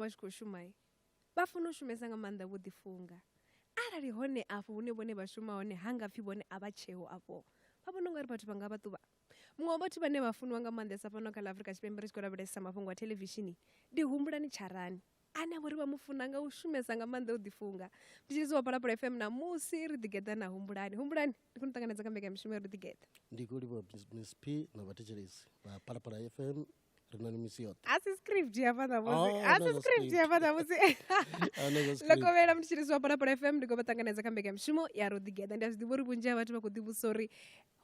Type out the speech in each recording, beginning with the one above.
vha tshi khou shuma vha funa u shumesa nga maanḓa vho ḓifunga arali hone afho hune vhone vha shuma hone ha nga pfhi vhone a vha tsheo afho vha vhona ungari vhathu vha nga vha ṱuvha muṅwe wa vhathu vhane vha funiwa nga maanḓesa fhano kha ḽa afurika tshipembe ri tshi khou lavhelesa mafhungo a thelevishini ndi humbulani tsharani ane a vhori vha mu funa nga u shumesa nga maanḓa u ḓifunga ndi tshi wa palapala fm na musi ri ḓigeḓa na humbulani humbulani ndi khou ni ṱanganedza kha mbekanya mishumo ya ri ḓigeḓa ndi khou livha miss p na vhathetshelesi vha palapala fm ri na ni misi yoṱhe a si script ya fhaḓa musi oh, a si script ya fhaḓa musi ḽo kovhela muthu tshiri siwa phalaphala fm ndi khou vha ṱanganedza kha mbekanyamushumo ya ro ḓigeḓa ndi a zwi ḓivha uri vhunzhi ha vhathu vha khou ḓivhusa uri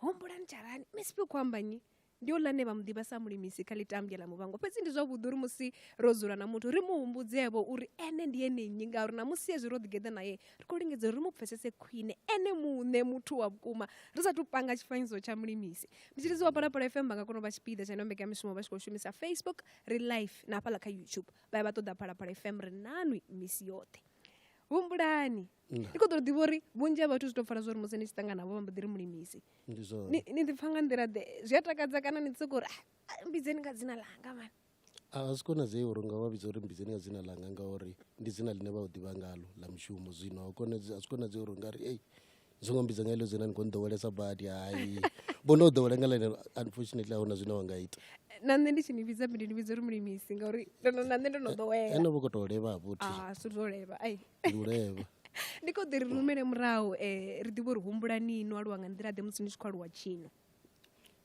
humbulani tsharani misi fhe khou amba nyi ndi o lane vha mu ḓivha sa mulimisi kha ḽitambya ḽa muvhango fhedzi ndi zwavhuḓi uri musi ro dzula na muthu ri mu humbudzevho uri ene ndi ene nnyi ngauri na musi hezwi ro ḓigeḓa naye ri khou lingedza uri ri mu pfesese khwine ene muṋe muthu wa vhukuma ri sathu panga tshifanyiso tsha mulimisi mutshilidzi wa palapala fm vha nga kona u vha tshipiḓa tsha ino mbekamishumo vha tshi khou shumisa facebook ri live na hafhaḽa kha youtube vha ya vha ṱoḓa palapala fm ri nanwi misi yoṱhe humbulani ndi khou ḓo ḓivha uri vhunzhi ha vhathu zwi tou pfala zwa uri musi ni tshi ṱangana navho vha mbo ḓi ri mulimisi ni ḓipfa nga nḓila ḓe zwi a takadza kana ni ḓi sokou uri ah, ah, mbidzeni nga dzina ḽanga mani A zwi konadzei uri nga vha vhidza uri mbidzeni nga dzina ḽanga ngauri ndi dzina ḽine vha u ḓivha ngalo ḽa mushumo zwino a konadzei a zwi konadzei uri nga ri ei ni songo mbidza nga heḽo dzina ni khou nḓowelesa badi hai vho no ḓowela nga ḽeneḽo unfortunately a huna zwine wa nga ita na nṋe ndi tshi ni vhidza mbilu ni vhidza uri mulimisi ngauri na nṋe ndo no ḓowela ene vho khou tou levha ha vhuthi a zwi zwo levha ai ndi u levha ndi khou ḓi ri rumele murahu um ri ḓivhe uri humbulani no aluwa nga nḓila ḓe musi ni tshi khou aluwa tshino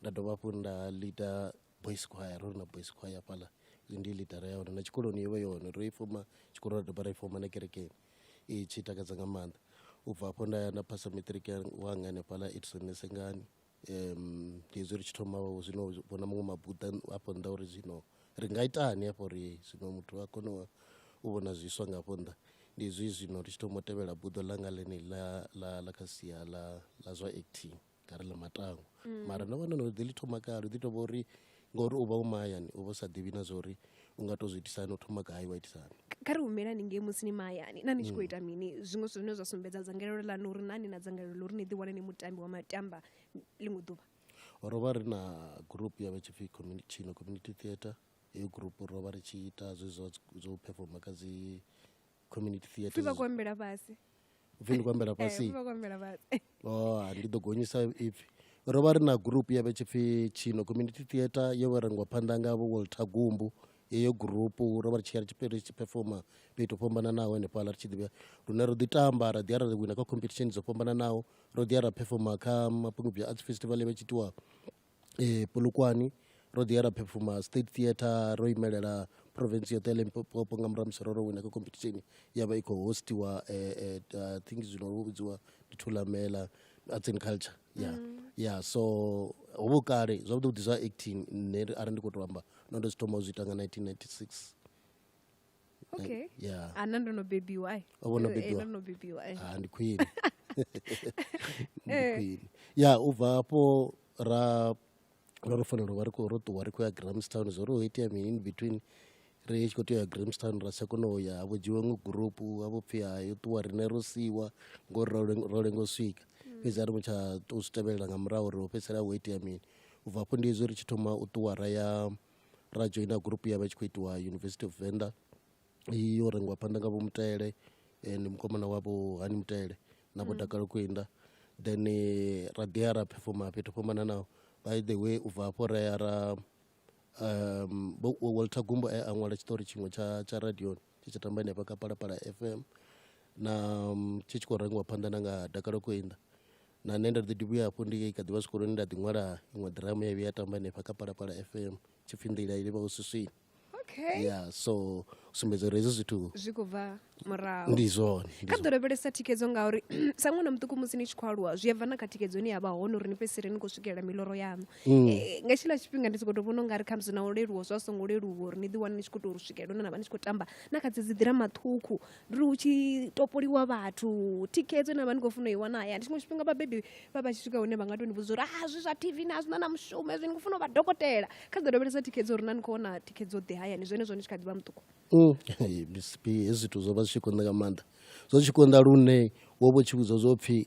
nda dovha hafhu nda lida boys choir ro na boys choir hafhaḽa ndi lidara ya hone na tshikoloni yo vha yone ro i foma tshikolo ra dovha ra i foma na kerekeni i tshi takadza nga maanḓa u bva hafho nda ya nda phasa matric wanga hanefhaḽa edison nesengani um ndi hezwi ri tshi thoma zwino vhona muṅwe mabuḓa afho nnḓa uri zwino ri nga itani hafho uri zwino muthu a kone u vhona zwiswa nga hafho nnḓa ndi hezwi zwino ri tshi thoma u tevhela buḓo ḽanga ḽeneḽi ḽa ḽa ḽa kha sia ḽa ḽa zwa acting nga ri ḽa matangwa mm. mara ndo vhona no ḓi ḽi thoma kale ḓi to vha uri ngori u vha u mahayani u vha u sa ḓivhi na zwa uri u nga to zwi itisani u thoma gai wa itisani kha ri humelani ngei musi ni mahayani na ni tshi khou mm. ita mini zwiṅwe zwithu zwine zwa sumbedza dzangalelo ḽanu uri na ni na dzangalelo ḽa uri ni ḓiwane ni mutambi wa matamba ḽiṅwe ḓuvha ro vha ri na group ya vha tshi pfi chino community theatre heyo group ro vha ri tshi ita zwe zwa zwo performa kha dzi community pfi theatre vha khou ambela fhasi upfi ndi khou ambela Eh, fhasi vha khou ambela fhasi oh ha, ndi ḓo gonyisa ipfi ro vha ri na group ya vhe tshipfi tshino community theatre yo vha rengwa phanḓa nga vho walter gumbu yeyo group ro vha ri tshi ya ri tshi ri tshi performa fhethu ho fhambananaho henefhaḽa ri tshi ḓivha lune ro ḓi tamba ra ḓi ya ra wina kha competition dzo fhambananaho ro ḓi ya ra performa kha mapungubya arts festival ya vhe tshi itiwa eh, Polokwane ro ḓi ya ra phefuma state theatre ro imelela province yoṱhe ya limpopo nga murahu musi ro ro wina kha competition ya vha i khou hostiwa eh, eh, uh, i think zwino vho vhudziwa ndi thulamela arts and culture ya ya so ho vho kale zwavhuḓi vhuḓi zwa acting nṋe arali ndi khou tou amba no ndo zwi thoma u zwi ita nga 1996 okay yeah ana ndo no bebiwa ai O vho no Eh, eh, bebiwa. ndo no bebiwa ai ah, ndi khwine ndi khwine ya u bva hafho ra ra ro fanela u vha ri khou ro ṱuwa ri khou ya grahamstown zwo ri ho itea mini in between ri tshi khou tea u ya grahamstown ra tsha kona u ya havho dzhiwa iṅwe gurupu havho pfhi hayo ṱuwa riṋe ro siiwa ngori ro leng- ro lenga u swika fhedzi a ri mu tsha tou zwi tevhelela nga murahu uri ho fhedzisela ho itea mini u bva hafho ndi hezwi ri tshi thoma u ṱuwa ra ya ra dzhoina gurupu ya vha tshi khou itiwa University of Venda yo rengiwa phanḓa nga vho Mutale ndi mukomana wa vho Hani Mutale na vho Dakalo Kwinda then eh, ra ḓi ya ra phefoma fhethu fhambana naho by the way u bva hafho ra ya ra um, Walter Gumbo a ṅwala tshiṱori tshiṅwe tsha, tsha radioni tshi tshi tamba henefha kha phalaphala fm na mm, tshi tshi khou rengiwa phanḓa na nga dakalo koinda na nṋe nda ḓi ḓi vhuya hafho ndi kha ḓivha zwikoloni nda ḓi ṅwala iṅwe ḓiramu ya vhuya ya tamba henefha kha phalaphala fm tshipfi nḓila i livha u swiswini okay ya so u sumbedza uri hezwi zwithu zwi khou bva murahu ndi zwone ndi kha ḓo lavhelesa thikedzo ngauri sa ṅwana muṱuku musi ni tshi khou aluwa zwi a bva na kha thikedzo ine ya vha hone uri ni fhedzisele ni khou swikelela miloro yaṋu mm. eh, nga tshila tshifhinga ndi sokou tou vhona ungari khamusi na u leluwa zwa songo leluwa uri ni ḓiwane ni tshi khou tou swikelela hune na vha ni tshi khou tamba na kha dzedzi ḓirama ṱhukhu ndi uri hu tshi topoliwa vhathu thikhedzo ine na vha ni khou funa i wana hayani tshiṅwe tshifhinga vhabebi vha vha tshi swika hune vha nga tou ni vhudza uri a ah, zwi zwa tv na zwina na mushumo ezwi ni khou funa u vha dokotela kha dza lavhelesa thikhedzo uri na ni khou wana thikhedzo ḓe hayani zwenezwo ni tshi kha ḓi vha muṱuku mm. hezwi zwithu zwo vha zwi tshi konḓa nga maanḓa zwo tshi konḓa lune wo vho tshi vhudzwa zwo pfhi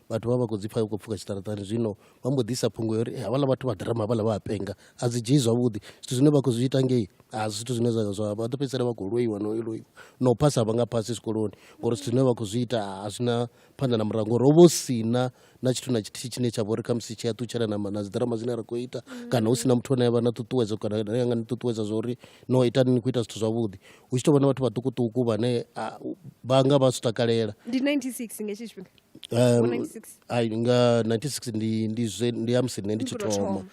vhathu vha vha khou dzi pfha khou pfuka tshiṱaratani zwino vha mbo ḓisa phungo yori eh, havhala vhathu vha ḓirama havhala vha a penga a dzi dzhii zwavhuḓi zwithu zwine vha khou zwi ita ngei a zwithu zwine zwa zwa vha ḓo fhedzisela vha khou loiwa no loiwa na u phasa vha nga phasi zwikoloni ngori zwithu zwine vha khou zwi ita a zwi na phanḓa na murahu ngori ho vha sina na tshithu na tshithihi tshine tsha vha uri khamusi tshi a ṱutshela na na dziḓirama dzine ra khou ita kana hu si na muthu ane a vha na ṱuṱuwedzo kana ane anga ni ṱuṱuwedza zwa uri no ita ni khou ita zwithu zwavhuḓi hu tshi tou vha na vhathu vhaṱukuṱuku vhane vha nga vha zwi takalela ndi 96 nga tshifhinga Um, ai nga 1960 ndi ndi zwe ndi ya musi nṋe ndi tshi thoma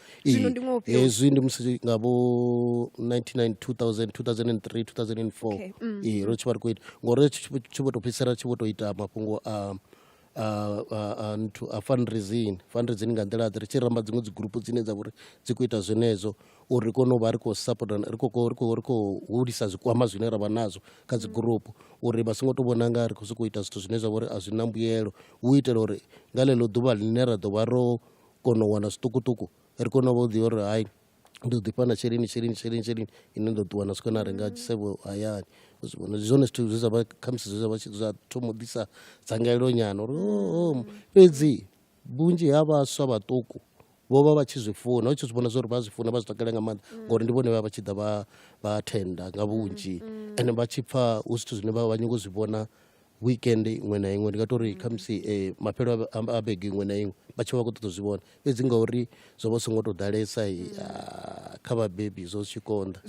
hezwi ndi musi nga vho 1990 2000 2003 2004 ee ro tshi vha ri khou ita ngori tshi vho to fhedzisela tshi vho to ita mafhungo a a nthu a fundraising fundraising nga nḓila ḓe ri tshi ramba dziṅwe dzi gurupu dzine dza vha uri dzi khou ita zwenezwo uri ri kone u vha ri khou sapota ri khou ri khou ri khou hulisa zwikwama zwine ra vha nazwo kha dzi gurupu uri vha songo to vhona nga ri khou sokou ita zwithu zwine zwa vha uri a zwi na mbuyelo hu itela uri nga ḽeḽo ḓuvha ḽine ra ḓo vha ro kona u wana zwiṱukuṱuku ri kone u vha u ḓivha uri hai ndo ḓifha na tsheleni tsheleni tsheleni tsheleni ine ndo ṱuwa na swika na renga tshisevho hayani ndi zwone zwithu zwe zwa vha khamusi zwe zwa vha zwa thoma u ḓisa dzangalelo nyana uri oh, oh, fhedzi vhunzhi ha vhaswa vhaṱuku vho vha vha tshi zwi funa hu tshi zwi vhona zwa uri vha zwi funa vha zwi takalela nga maanḓa mm. ngori ndi vhone vha vha tshi ḓa vha vha thenda nga vhunzhi mm, mm. ende vha tshi pfa hu zwithu zwine vha vha nyingo zwi vhona weekend iṅwe na iṅwe ndi nga to ri kha musi um eh, mafhelo a bege iṅwe na iṅwe vha tshi vha vha khou ṱoḓa u zwi vhona fhedzi ngauri zwo vha songo tou ḓalesa ah, kha vhabebi zwo zwi tshi konḓa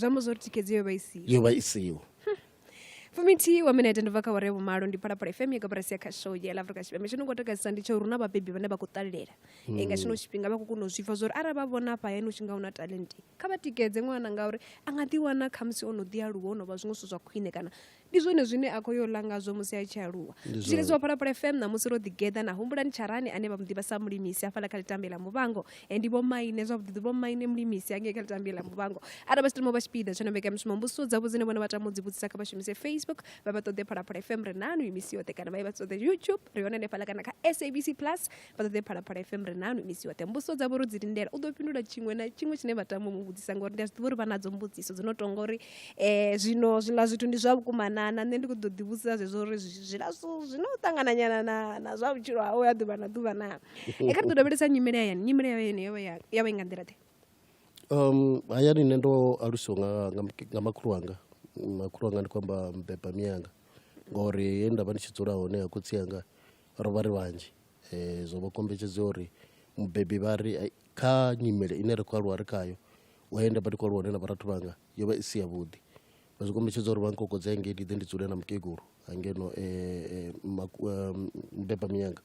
yo vha isiho fumithihi wa minete ndi bva kha ware vhumalo ndi phalaphala fm ya kabarasi ya khasho ya la afrika tshipembe tshino ngo takadzisa ndi tsho runa vhabebi vhane vha khou ṱalelela mm. nga tshino tshifhinga vha khou kona u zwipfa zwa uri arali vha vhona afha hayani u tshi nga una talenti kha vha tikedze ṅwana ngauri a nga ḓiwana khamusi o no ḓi aluwa o no vha zwiṅwe zwithu zwa khwine kana ndi zwone zwine a khou yo ḽa ngazwo musi a tshi aluwa zwiletsi wa phalaphala fm ṋamusi ro ḓigeḓa na humbulani tsharani ane vha mu ḓivha sa mulimisi hafhaḽa kha litambe ḽa muvhango Eh, ndi vhomaine zwavhuḓi vhomaine mulimisi angei kha litambi la muvhango arali vha tshi tama vha tshipiḓa tsho no mbekanyamushumo mbusiso dzavho dzine vhone vha tama u dzi vhudzisa kha vha shumise facebook vha vha ṱoḓe phalaphala fm ri nanu imisi yoṱhe kana vha ye vha ṱoḓe youtube ri hone hanefhala kana kha sabc plus vha ṱoḓe phalaphala fm ri nanu imisi yoṱhe mbusiso dzavho ro dzi lindela u ḓo fhindula tshiṅwe na tshiṅwe tshine vha tama u mu vhudzisa ngori ndi a zwi ḓivha uri vha nadzo mbudziso dzi no tonga uri um zwino zwiḽa zwithu ndi zwa vhukumanana nṋe ndi khou ḓo ḓivhudzisa zwezwo uri zwiḽa zwithu zwino ṱangananyana na zwa vhutshilo hawe ha ḓuvha na ḓuvha naa e kha ri ḓo lavhelesa nyimele hayani nyimele ya yone yo vha i nga nḓila ḓe um hayani nṋe ndo alusiwa nga, nga, nga makhulu wanga makhulu wanga ndi khou amba mbeba miyanga ngori he nda vha ndi tshi dzula hone ha khotsi anga ro vha ri vhanzhi um zwo vha kombetshedza uri mubebi vha ri kha nyimele ine ri khou aluwa ri khayo wa ye nda vha ndi khou aluwa hone na vharathu vhanga yo vha i si yavhuḓi vha zwi kombetshedza uri vha nkokodze hangei ndi ḓe ndi dzule na mukegulu hangeno um mbeba miyanga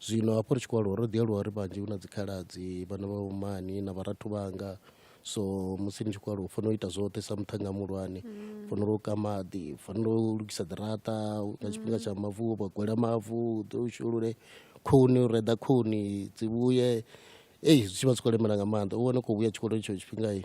zwino hafho ri tshi khou aluwa ro ḓi aluwa ri vhanzhi hu na dzikhaladzi vhana vha vhomani na vharathu vhanga so musi ni tshi khou aluwa u fanela u ita zwoṱhe sa muṱhannga muhulwane mm. fanela u ka maḓi fanela u lugisa ḓirata nga tshifhinga tsha mavu vha gwela mavu ḓo u shulule khuni u reḓa khuni dzi vhuye ei zwi tshi vha zwi khou lemela nga maanḓa u wane u khou vhuya tshikoloni tsho tshifhingai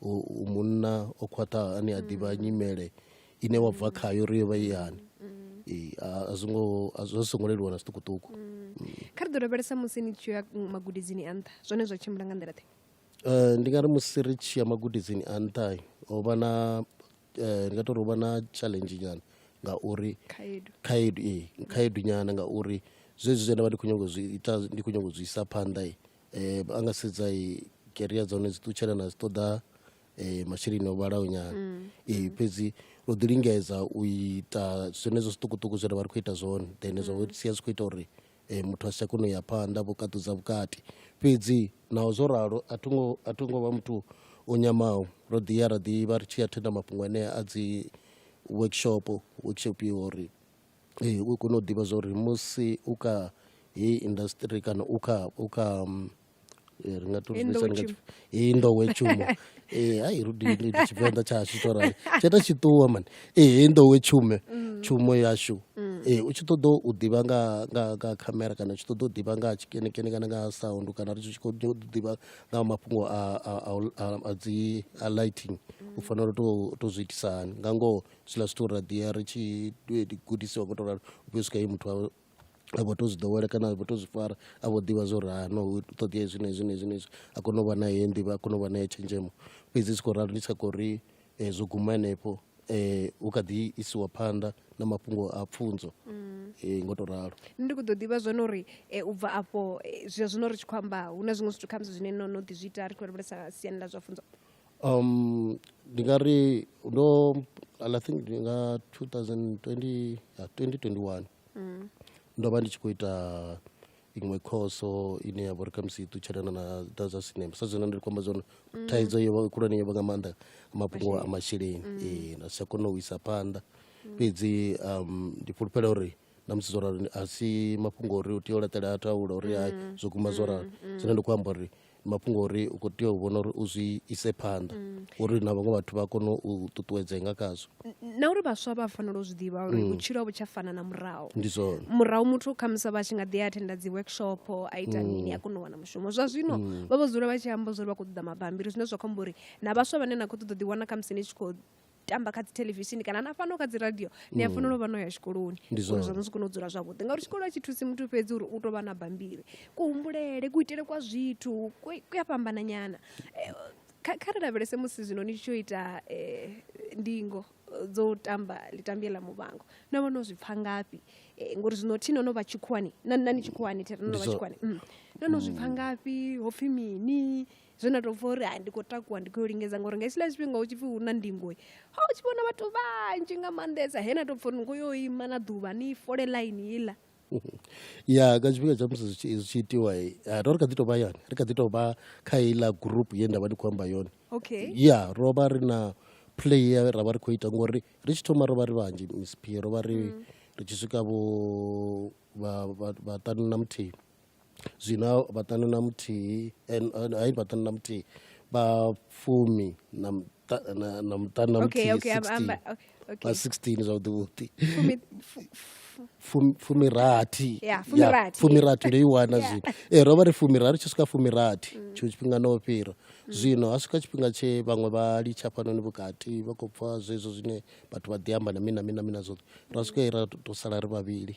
u munna o khwaṱhaho ane a ḓivha nyimele ine wa bva khayo ri yo vha ihani a zwi ngo a zwo songo leluwa na zwiṱukuṱuku kha ri ḓo lavhelesa musi ni tshi ya magudedzini a nṱha zwone zwa tshimbila nga nḓila ḓe eh, ndi nga ri musi ri tshi ya magudedzini a nṱha ho vha na eh, ndi nga tori ho vha na challenge nyana ngauri khaedu khaedu ee khaedu nyana ngauri zwezwi zwe nda vha ndi khou nyanga zwi ita ndi khou nyanga zwi isa phanḓa um a nga sedza keria dza hone dzi ṱutshela na dzi ṱoḓa um masheleni o vhalaho nyana mm. ee fhedzi ro ḓi lingedza u ita zwenezwo zwiṱukuṱuku zwine vha ri khou ita zwone then zwa mm. sia zwi khou ita uri um muthu a si tsha kona u ya phanḓa vho kaṱudza vhukati fhedzi naho zwo ralo a tho ngo vha muthu o nyamaho ro ḓi ya ra ḓivha ri tshi ya thenda mafhungo anea a dzi workshop workshop yo uri Ee u kone u ḓivha zwa uri musi u kha heyi indasiṱiri kana u kha u kha ri nga to zwi vhidza nga heyi nḓowetshumo ee hai ri dini tshivenḓa tsha hashu tsho rali tsho ita tshi ṱuwa mani ee heyi nḓowetshume tshumo yashu ee u tshi ṱoḓa u ḓivha nga nga nga khamera kana u tshi ṱoḓa u ḓivha nga ha tshikenekene kana nga ha sound kana ri tshi khou ḓivha nga ha mafhungo a a a dzi a lighting u fanela u to to zwi itisa hani nga ngoho zwiḽa zwithu ra ḓiya ri tshi gudisiwa ngo to ralo u fhiwa swika he muthu awe a vho to zwi ḓowela kana a vho to zwi fara a vho ḓivha zwa uri ha no hu ṱoḓea hezwi na hezwi na hezwi na hezwi a kone u vha na heyo nḓivho a kone u vha na heyo tshenzhemo fhedzi zwi tshi khou ralo ndi tsa khou ri zwo guma henefho hu kha ḓi isiwa phanḓa na mafhungo a pfunzo ngo to ralo. Nṋe ndi kho ḓo ḓivha zwone uri u bva afho zwa zwino ri tshi khou amba hu na zwiṅwe zwithu khamusi zwine no no ḓi zwi ita ri khou lavhelesa siani ḽa zwa pfunzo. um ndi nga ri ndo and i think ndi nga 2020 ya 2021 mm. ndo vha ndi tshi khou ita iṅwe khoso ine ya vha uri khamusi i ṱutshelana na da zwa sinema sa zwino ndi khomba zwone mm. thaidzo yo vha khulwane yo vha nga maanḓa mafhungo a masheleni mm. ee nda si tsha kona u isa phanḓa mm. fhedzi um ndi fhulufhela uri na musi zwo rali a si mafhungo uri u tea u laṱela a taula uri hai mm. zwo guma zwo rali mm. zwine ndi khou amba uri mm. mafhungo uri u khou tea u vhona uri u zwi ise phanḓa mm. uri na vhaṅwe vhathu vha kone u ṱuṱuwedzea nga khazwo na uri vhaswa vha fanela u zwi ḓivha uri mm. vhutshilo a vhu tsha fana na murahu ndi zwone murahu muthu khamusi vha tshi nga ḓi athenda dzi workshop a ita mm. mini a kona u wana mushumo zwa zwino vha vho dzula vha tshi amba zwa uri vha khou ṱoḓa mabambiri zwine zwa khou amba uri na vhaswa vhane na khou ṱoḓa ḓiwana khamusi ni tshi khou tamba kha dzi theḽevishini kana na fhano kha dzi radio ni a fanela u vha no ya tshikoloni Ndi uri zwone. zwa musi kone u dzula zwavhuḓi ngauri tshikolo a tshi thusi muthu fhedzi uri u tou vha na bambiri kuhumbulele kuitele kwa zwithu ku ku a fhambana nyana Eh, kha kha ri lavhelese musi zwino ni tshi tsho ita eh, ndingo eh, dzo tamba litambie ḽa muvhango na vha no zwi pfha ngafhi Eh, ngori zwino thi no no vha tshikhuwani na na ni tshikhuwani thi ri no no Ndi vha zwo- tshikhuwani Mm. no no zwi pfha ngafhi ho pfhi mini zwe nda tou pfa uri hai ndi khou takuwa ndi khou lingedza ngori nga hetshiḽa tshifhinga hu tshi pfi hu na ndingo ha u tshi vhona vhathu vhanzhi nga maanḓesa he na tou pfa uri ni khou yo ima na ḓuvha ni fole ḽaini iḽa ya nga tshifhinga tsha musi zwi tshi itiwa eh, ro ri kha ḓi tou vha yani ri kha ḓi tou vha kha iḽa group ye nda vha ndi khou amba yone okay ya ro vha ri na play ye ra vha ri khou ita ngori ri tshi thoma ro vha ri vhanzhi miss p ro vha ri mm. ri tshi swika vho vhaṱanu na muthihi zwina vhaṱanu na muthihi hai vhaṱanu na muthihi vha fumi na na muṱanu na muthihi vha sixteen zwavhuḓi vhuḓi fumirathi fumirathi ndo i wana zwino e ro vha ri fumirathi tshi swika fumirathi mm. tshiṅwe tshifhinga no fhira mm. zwino ha swika tshifhinga tshe vhaṅwe vha litsha fhanoni vhukati vha khou pfa zwezwo zwine vhathu vha ḓi amba na mina mina mina zwoṱhe ra swika ra to sala ri vhavhili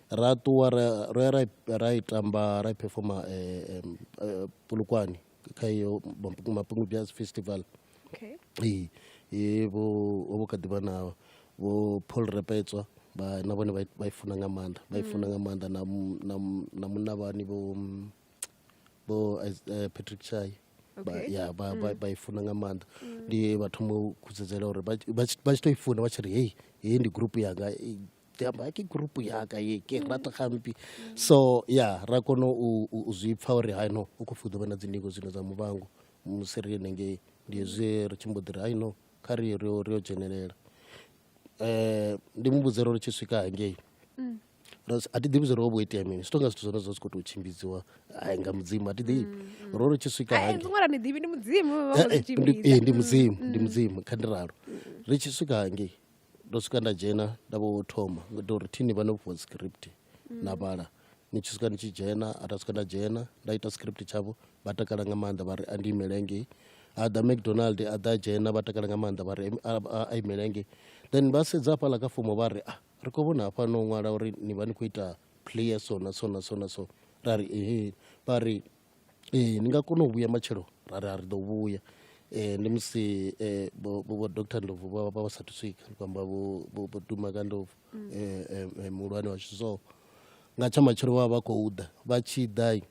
ra ṱuwa ro ya ra i tamba ra i phefoma eh, eh, pulukwani kha iyo mapungu jazz festival vho vho kha ḓivha na vho paul repetswa vha na vhone vha i funa nga maanḓa vha i funa nga maanḓa na munna vhani vho vho eh, patrick chai ya vha mm. i funa nga maanḓa mm. ndi vha thoma u khutsedzela uri vha tshi to i funa vha tshi ri hei hei ndi gurupu yanga ke amba ke group yaka ye ke mm. rata gampi mm. so ya ra kono u zwi pfa uri hai no u khou pfi u ḓo vha na dzindingo zwino dza muvhango musi ri henengei ndi hezwi ri tshi mbo ḓi ri hai no kha ri ri yo dzhenelela um ndi mu vhudze ro ri tshi swika hangei mm. a ti ḓivhi zwo ri ho vho itea mini zwi tonga zwithu zwone zwa zwi khou tou tshimbidziwa hai nga mudzimu a ti ḓivhi ro ri tshi swika hangei ndi mudzimu ndi mudzimu kha ndi ralo ri tshi swika hangei ndo swika nda dzhena nda vho thoma ngaita uri thini vha no fhiwa script na vhala ni tshi swika ni tshi dzhena a nda swika nda dzhena nda ita script tshavho vha takala nga maanḓa vha ri a ndi imele ngei a ḓa mcdonald a ḓa dzhena vha takala nga maanḓa vha ri a imele ngei then vha sedza hafhaḽa kha fomo vha ri a ah, ri khou vhona hafha no ṅwala uri ni vha ni khou ita player so na so na so na so ra ri ehe vha ri ee ni nga kona u vhuya matshelo ra ri a ri ḓo vhuya um ndi musi um vho doctor ndlovu vha vha vha sathu swika ndi khou amba vho duma ka ndlovu um muhulwane washu so nga tsha matshelo vha vha vha khou ḓa vha tshi ḓa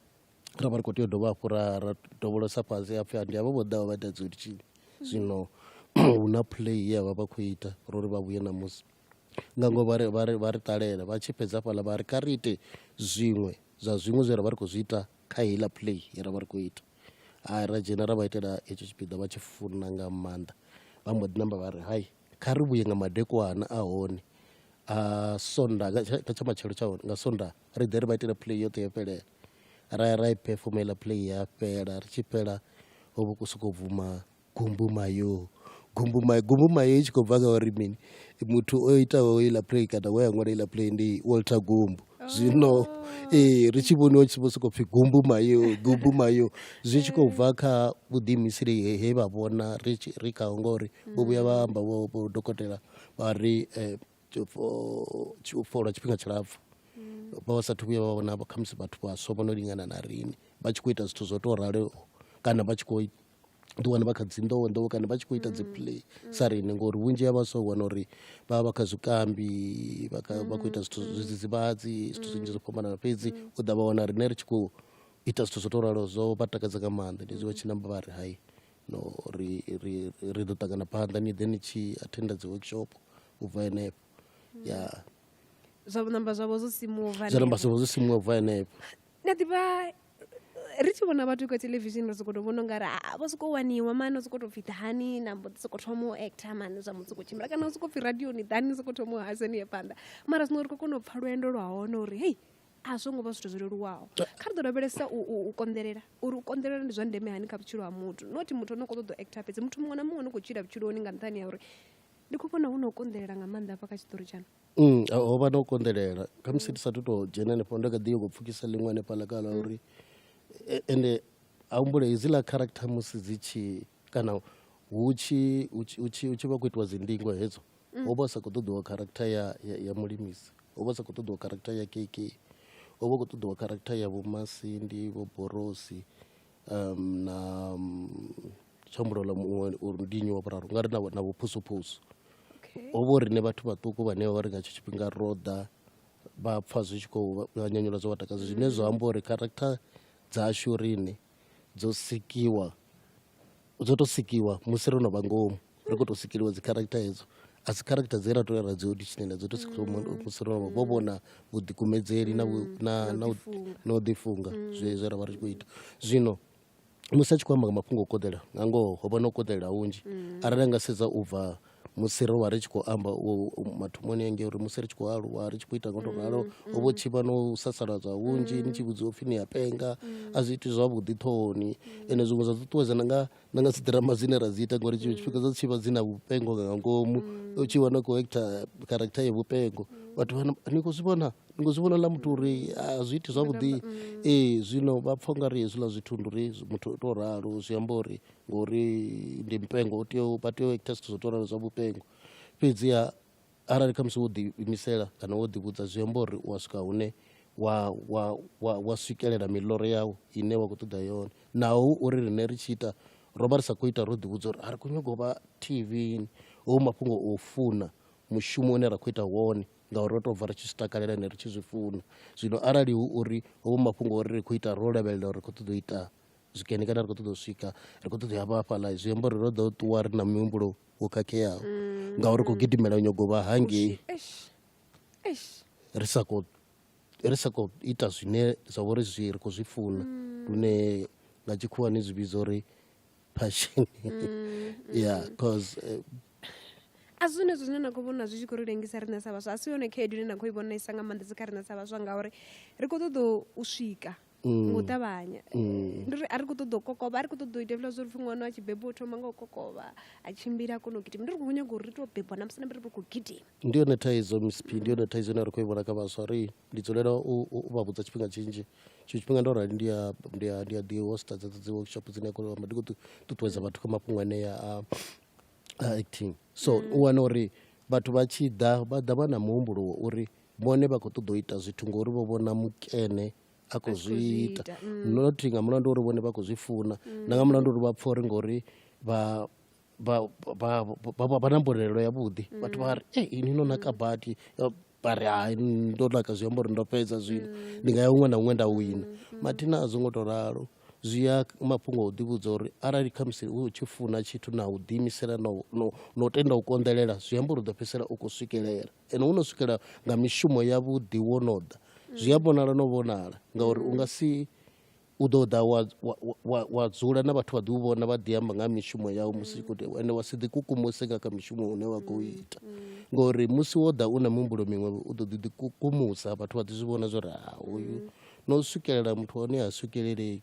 ra vha ri khou tea u dovha hafhu ra ra dovholosa fhasi hapfi ndi havha vho ḓaho vha ita dzi zwino hu na play ye vha vha khou ita ro ri vha vhuye ṋamusi nga ngoho vha ri vha ri vha ri ṱalela vha tshi fhedza hafhaḽa vha ri kha ri ite zwiṅwe zwa zwiṅwe zwe ra vha ri khou zwi ita kha heiḽa play ye ra vha ri khou ita a ra dzhena ra vha itela hetsho tshipiḓa vha tshi funa nga maanḓa vha mbo ḓi namba vha ri hai kha ri vhuye nga madekwana a hone a sonda nga tsha matshelo tsha hone nga sonda ri ḓe ri vha itela play yoṱhe ya fhelela ra ya ra i perform heiḽa play ya fhela ri tshi fhela ho vha hu khou sokou bvuma Gumbumayo, gumbumayo, gumbumayo i tshi khou bva kha uri mini muthu o itaho iḽa play kana we a ṅwala iḽa play ndi Walter Gumbu zwino ee ri tshi vhoniwa tshi vho sokou pfhi gumbumayo, gumbumayo zwi tshi khou bva kha vhuḓiimiseli he vha vhona ri tshi ri khaho ngori vho vhuya vha amba vho vho dokotela vha ri u fhola tshifhinga tshilapfhu vha vha sathu vhuya vha vhona khamusi vhathu vhaswa vho no lingana na riṋe vha tshi khou ita zwithu zwo tou raloho kana vha tshi khou ḓi wana vha kha dzi nḓowenḓowe kana vha tshi khou ita dzi play sa riṋe ngori vhunzhi ha vhaswa u wana uri vha vha vha kha zwikambi vha khou ita zwithu zwidzidzivhadzi zwithu zwinzhi zwo fhambanana fhedzi u ḓa vha wana riṋe ri tshi khou ita zwithu zwo tou ralo zwo vha takadza nga maanḓa ndi zwi vha tshi namba vha ri hai no ri ri ri ḓo ṱangana phanḓa ni ḓe ni tshi athenda dzi workshop u bva henefho ya zwa namba zwavho zwo simuwa zwa namba zwavho zwo simuwa u bva henefho ndi a ḓivha ri tshi vhona vhathu kha television ri sokoto vhona ungari ah, vho soko waniwa mani sokoto pfhi ḓani na mbo ḓi soko thoma u actor mani zwa mutsiko tshimbila kana u soko pfhi radioni ḓani soko thoma u haseni ye phanḓa mara zwino ri khou kona u pfha lwendo lwa hone uri hei a zwo ngo vha zwithu zwo leluwaho kha ri ḓo lavhelesa u konḓelela uri u konḓelela ndi zwa ndeme hani kha vhutshilo ha muthu not muthu ono khou ṱoḓa u actor fhedzi muthu muṅwe na muṅwe no khou tshila vhutshiloni nga nṱhani ya uri ndi khou vhona hu na u konḓelela nga maanḓa hafha kha tshiṱori tshaṋu Mm, a- ho vha no konḓelela khamusi ndi sathu tou dzhena hanefho ndo kha ḓi yoko pfukisa ḽiṅwe hanefhaḽa kala uri e- ende a humbule hedziḽa character musi dzi tshi kana hu tshi hu tshi- hu tshi- hu tshi vha khou itiwa dzindingo hedzo ho vha hu sa khou ṱoḓiwa character ya, ya, ya mulimisi ho vha hu sa khou ṱoḓiwa character ya kk ho vha hu khou ṱoḓiwa character ya vhomasindi vho borosi um na um, tshambulo ḽa muṅwe uri ndi nnyi wa vhuraru nga ri na vhuphusuphusu ho vho riṋe vhathu vhaṱuku vhane vha ri nga tsho tshifhinga ro ḓa vha pfa zwi tshi khou vha nyanyula zwo vha takadza zwine zwa amba uri character dzashu riṋe dzo sikiwa dzo to sikiwa musi ro no vha ngomu ri khou tou sikeliwa dzi character hedzo a si character dze ra to ya ra dzi auditionela dzo to sikiwa musi ro no vha vho vhona vhuḓikumedzeli na vhu- na na u- na u ḓifunga zwe zwe ra vha ri tshi khou ita zwino musi a tshi khou amba nga mafhungo o koḓela nga ngoho ho vha no koḓelela hunzhi arali a nga sedza u bva musi ro vha ri tshi khou amba mathomoni enge uri musi ri tshi khou aluwa ri tshi khou ita ngoto ralo mm, mm. ho vho tshipa no u sasaladza hunzhi mm. ni tshi vhudziwa upfhi ni a penga a zwi iti zwavhuḓi ṱhohoni ende zwiṅwe zwa ṱuṱuwedza na nga na nga dziḓirama dzine ra dzi ita ngori tshiṅwe tshifhinga dza tshivha dzi na vhupengo nga ngomu u tshi wana khou ekta character ya vhupengo vhathu vha ni khou zwi vhona ni khou zwi vhona ḽa muthu uri a zwi iti zwavhuḓi ee zwino vha pfha u nga ri hezwiḽa zwithu ndi uri muthu u tou ralo zwi amba uri ngori ndi mupengo u tea vha tea u ita zwithu zwo tou zwa vhupengo fhedziha arali khamusi wo ḓiimisela kana wo ḓivhudza zwi amba uri u wa swika hune wa wa wa wa swikelela miḽoro yau ine wa khou ṱoḓa yone naho hu uri riṋe ri tshi ita ro vha ri sa khou ita ro ḓivhudza uri a ri khou nyanga u vha T_V ho mafhungo o funa mushumo une ra khou ita wone ngauri ro tou bva ri tshi zwi takalela ende ri tshi zwi funa zwino arali hu uri hovho mafhungo ori ri khou ita ro lavhelela uri ri khou ṱoḓa u ita zwikene kana ri khou ṱoḓa u swika ri khou ṱoḓa hafha hafhaḽa zwi amba uri ro ḓo ṱuwa ri na mihumbulo wo khakheaho mm. ngauri ri khou gidimela nyago vha hangei ri sa khou ri sa khou ita zwine zwa vha uri zwi ri khou zwi funa mm. lune nga tshikhuwa ni zwi vhidza uri passion mm, ya cause eh, a si zwone zwine na khou vhona zwi tshi khou ri lengisa riṋe sa vhaswa a si yone khaedu ine na khou i vhonesa nga maanḓesa kha riṋe sa vhaswa ngauri ri khou ṱoḓa u swika ngo mm. ṱavhanya mm. ndi uri a ri khou ṱoḓa u kokovha a ri khou ṱoḓa u ita hezwiḽa zwo ri pfhi ṅwana a tshi bebwa u thoma nga u kokovha a tshimbila a kona u gidima ndi ri khou nyaga uri ri tou bebwa na musi na ri ri khou gidima ndi yone thaidzo msp ndi yone thaidzo ine a ri khou i vhona kha vhaswa ri ndi dzulela u vha vhudza tshifhinga tshinzhi tshiṅwe tshifhinga ndo rali ndi a ndi a ndi a ḓi hosta dza dzi workshop dzine a kona u amba ndi khou ṱuṱuwedza vhathu kha mafhungo anea a acting so mm. u wana uri vhathu vha tshi ḓa vha ḓa vha na muhumbulo wa uri vhone vha khou ṱoḓa u ita zwithu ngori vho vhona mukene a khou zwi ita mm. not nga mulandu uri vhone vha khou zwi funa mm. na nga mulandu uri vha pfha uri ngori vha vha na mbonelelo yavhuḓi mm. vhathu vha ri e ini no naka badi vha ri hai ndo naka zwi amba uri ndo fhedza zwino ndi nga ya huṅwe na huṅwe nda wina mathina a zwo ngo tou ralo zwi ya mafhungo o ḓivhudza uri arali khamusi u tshi funa tshithu na u ḓiimisela na u tenda u konḓelela zwi amba uri u ḓo fhedzisela u khou swikelela ene wo no swikela nga mishumo yavhuḓi wo no ḓa zwi a vhonala no vhonala ngauri u nga si u ḓo ḓa wa, wa, wa, wa dzula na vhathu vha ḓi u vhona vha ḓi amba nga mishumo yau musi i khou tea ende wa si ḓi kukumuse nga kha mishumo une wa khou ita ngori musi wo ḓa u na mihumbulo miṅwe u ḓo ḓi ḓi kukumusa vhathu vha ḓi zwi vhona zwo ri ha uyu no swikelela muthu wa hone ha swikelelei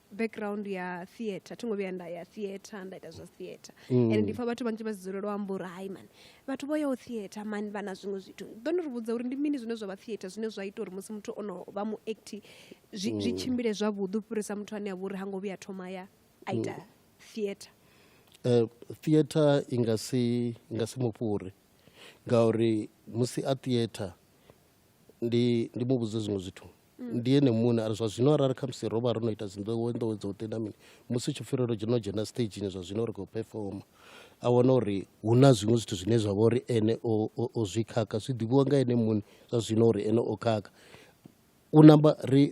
background ya theatre thi ngo vhuya nda ya theatre nda ita zwa theatre mm. and ndi pfa vhathu vhanzhi vha dzulelo amba uri hai mani vhathu vho yaho theatre mani vha na zwiṅwe zwithu ḓo ni ri vhudza uri ndi mini zwine zwa vha theatre zwine zwa ita uri musi muthu o no vha mu acti zwi mm. tshimbile zwavhuḓi u fhirisa muthu ane a vha uri ha ngo vhuya thoma ya a ita mm. theatre eh, theatre i nga si nga si mufhuri ngauri musi a theatre ndi ndi muvhudze zwiṅwe zwithu ndi ene muṋe ari zwa zwino arali khamusi ro vha ro no ita dzinḓowe nḓowe dzo tenda mini musi tshipfi ro dzheno dzhena stagini zwa zwino ri khou performa a wana uri hu na zwiṅwe zwithu zwine zwa vha uri ene o zwi khakha zwi ḓivhiwa nga ene muṋe zwa zwino uri ene o khakha u namba ri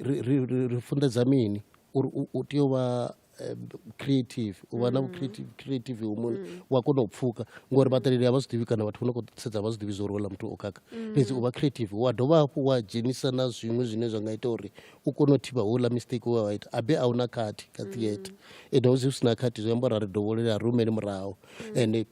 funḓedza mini uri u tea u vha eh, creative u vha na mm. creative creative humuni mm. wa kona u pfuka ngori vhaṱaleli a vha zwi ḓivhi kana vhathu vho no khou sedza vha zwi ḓivhi zwa uri wela muthu o khakha mm. fhedzi u vha creative wa dovha hafhu wa dzhenisa na zwiṅwe zwine zwa nga ita uri u kone u thivha houḽa mistake wa ita abe a una khathi kha theatre ende hu si na khathi zwi amba uri a ri dovholele a rumele murahu ende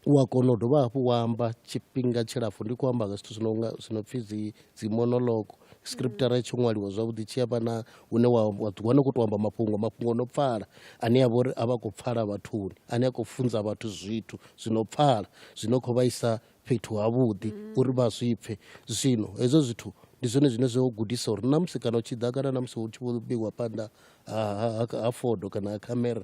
u a kona u dovha hafhu wa amba tshifhinga tshilapfhu ndi khou amba nga zwithu zwi nonga zwi no pfhi dzi dzi monolog scriptara i tsho ṅwaliwa zwavhuḓi tshi amba na hune wa wa ḓi wana u khou tou amba mafhungo mafhungo o no pfala ane a vha uri a vha khou pfala vhathuni ane a khou funza vhathu zwithu zwi no pfala zwi no khou vhaisa fhethu havhuḓi uri vha zwi pfhe zwino hezwo zwithu ndi zwone zwine zwo gudisa uri na musi kana u tshi ḓa kana na musi hu tshi vho vheiwa phanḓa ha ha ha ha fodo kana ha khamera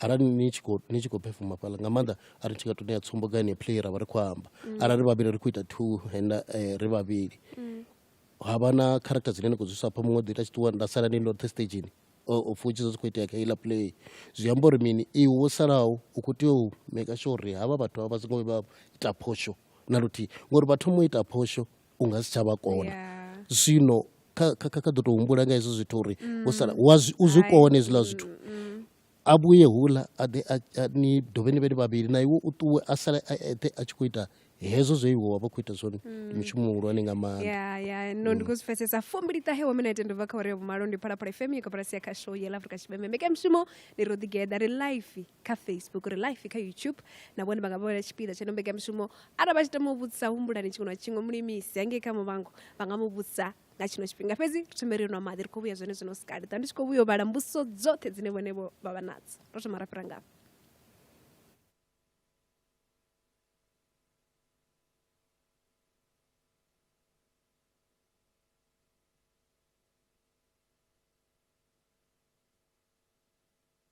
arali ni tshi khou ni tshi khou performa fhaḽa nga maanḓa a ri tshi nga to ṋea tsumbo nga ine play ra vha ri khou amba arali ri vhavhili ri khou ita two henda eh, ri vhavhili ha vha na character dzine ni khou dzi swapha muṅwe o ḓi ita tshiṱuwa nda sala ni loṱhe stageni futhi zwo zwi khou itea kha iḽa play zwi amba uri mini iwe wo salaho u khou tea u maker sure uri havha vhathu havha vha songo vha ita phosho na luthihi ngori vha thoma u ita phosho u nga si tsha vha kona yeah. zwino kha ḓo tou humbula nga hezwo zwithu uri u sala u zwi kone hezwiḽa zwithu a vhuye hula a ḓe ni dovhe ni vhe ni vhavhili na iwe u ṱuwe a sale a eṱhe a tshi khou ita hezwo zwe iwe wa vha khou ita zwone ndi mushumo muhulwane nga maanḓa no ndi khou zwi pfesesa fumbili ṱahe wa minete ndo bva kha uri ya vhumalo ndi phalaphala fm ya koporasi ya khasho ya la afrika tshipembe mbekanyamushumo ndi ro ḓigeḓa ri life kha facebook ri life kha youtube na vhone vha nga vhona tshipiḓa tsha no mbekamishumo arali vha tshi tama u vhudzisa humbulani tshiṅwe na tshiṅwe mulimisi hangei kha muvhango vha nga mu vhudzisa nga tshino tshifhinga fhedzi ri thome ri nwa maḓi ri khou vhuya zwone zwino sikali ṱa ndi tshi khou vhuya u vhala mbudziso dzoṱhe dzine vhone vho vha vha nadzo ro thoma ra fhira ngafho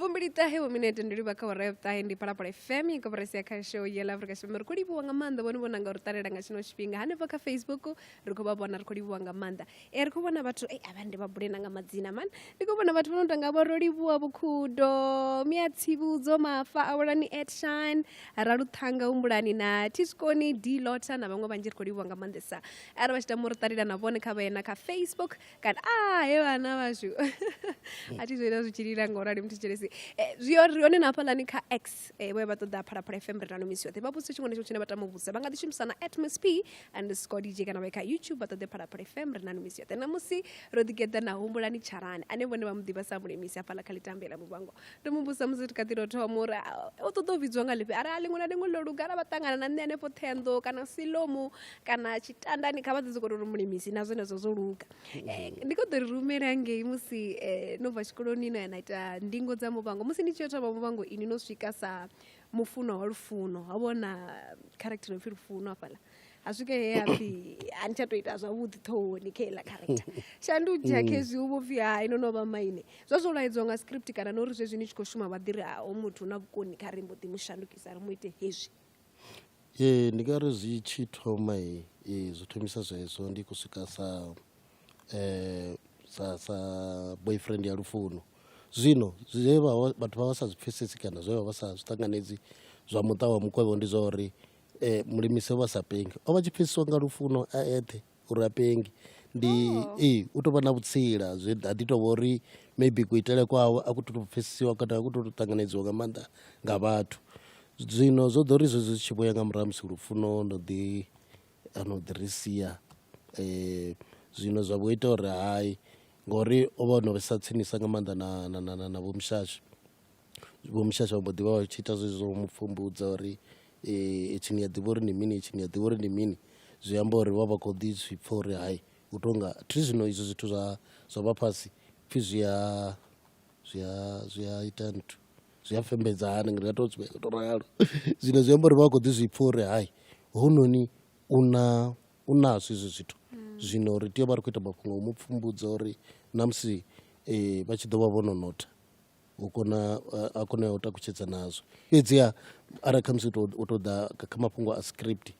fumbiliṱahe vho minete ndi livha kha hora ya vhuṱahe ndi phalaphala fm i koporasi ya khasho ya la afrika tshipembe ri khou livhuwa nga maanḓa vhone vhona nga ri ṱalela nga tshino tshifhinga hanefho kha facebook ri khou vha vhona ri khou livhuwa nga maanḓa e ri khou vhona vhathu e avha ndi vha bule na nga madzina mani ndi khou vhona vhathu vho no tanga vho ro livhuwa vhukhudo mia tsivhudzo mafa awelani edshine raluṱhanga humbulani na tiskoni d lota na vhaṅwe vhanzhi ri khou livhuwa nga maanḓesa arali vha tshi tama uri ṱalela na vhone kha vha yena kha facebook kana a ah, he vhana vhashu a thi zwoita zwi tshi lila nga u rali muthu tshelesi eh, zwi ri hone na hafhaḽani kha x eh, vhoya vha ṱoḓa phalaphala fm ri nano misi yoṱhe vha vhudzisa tshiṅwe na tshiṅwe tshine vha tama u vhudzisa vha nga ḓi shumisa na atmos p and score dj kana vha kha youtube vha ṱoḓe phalaphala fm ri nano misi yoṱhe namusi ro ḓigeḓa na humbulani tsharani ane vhone vha mu ḓivha sa mulemisi hafhaḽa kha litambela muvhango ri mu vhudzisa musi ri kha ḓi ro thoma uri ah, u ṱoḓa u vhidziwa nga ḽifhi ara a ḽiṅwe na ḽiṅwe ḽo luga ara vha ṱangana na nṋe hanefho ṱhenḓo kana silomu kana tshitandani kha vha ḓi sokou ri mulimisi na zwenezwo zwo luga eh, ndi khou ḓo ri rumela ngei musi eh, no bva tshikoloni no ya na ita ndingo dza muvhango musi ni tshi yo thoma muvhango ini no swika sa mufuno wa lufuno ha vhona character no pfhi lufuno hafhaḽa a swike he a pfhi a ni tsha tou ita zwavhuḓi ṱhohoni kha iḽa character shandudzha mm. khezwi u vho pfhi hai no no vha maine zwa zwo laedzwa nga script kana no ri zwezwi ni tshi khou shuma vha ḓi ri ha o muthu na vhukoni kha ri mbo ḓi mu shandukisa ri mu ite hezwi Ee ndi nga ri zwi tshi thoma zwi thomisa zwezwo ndi khou swika sa sa sa boyfriend ya lufuno. Zwino zwe vha vha vhathu vha vha sa zwi pfhesesi kana zwe vha vha sa zwi ṱanganedzi zwa muṱa wa mukovhe ndi zwa uri Mulimisi o vha sa pengi, o vha tshi pfheseswa nga lufuno a eṱhe. uri a pengi ndi oh. ee u tovha na vhutsila zwi ha ḓi tovha uri maybe kuitele kwawe a ku to pfhesesiwa kana a ku to ṱanganedziwa nga maanḓa nga vhathu zwino zwo ḓo ri zwezwi zwi tshi vhoya nga murahu musi lufuno no ḓi ano ḓi ri sia um zwino zwa vho ita uri hai ngori o vha o no vhesa tsinisa nga maanḓa na na na na na vho mushashi Vho Mushasha vha mbo ḓi vha vha tshi ita zwezwi zwa u mu pfhumbudza uri hetshi ni a ḓivha uri ndi mini hetshi ni a ḓivha uri ndi mini, zwi amba uri vha vha khou ḓi zwi pfha uri hai hu tou nga thi zwino izwi zwithu zwa zwa vha fhasi pfhi zwi a zwi a zwi a ita nthu zwi a fhembedza hani ndi nga tou zwi tou ralo. Zwino zwi amba uri vha vha khou ḓi zwi pfha uri hai hounoni u na u nazwo hezwi zwithu, zwino ri tea u vha ri khou ita mafhungo a u mu pfhumbudza uri na musi vha tshi ḓo vha vho no notha u kona a kone u takutshedza nazwo fhedziha arali khamusi u to ḓa kha mafhungo a script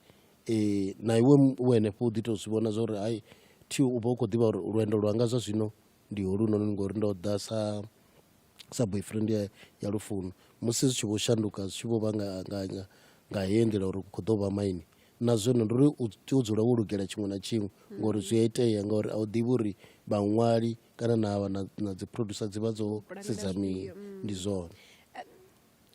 um na iwe u henefho u ḓi to zwi vhona zwa uri hai thi u vha u khou ḓivha uri lwendo lwanga zwa zwino ndi holunoni ngori ndo ḓa sa sa boyfriend ya ya lufuno. Musi zwi tshi vho shanduka zwi tshi vho vha nga nga nga nga heyi nḓila uri khou ḓo vha maine na zwino ndi uri u tea u dzula wo lugela tshiṅwe na tshiṅwe ngori zwi a itea ngauri a u ḓivhi uri vhaṅwali kana na vha na, na dzi producer dzi vha dzo sedza mini mm. ndi zwone eh,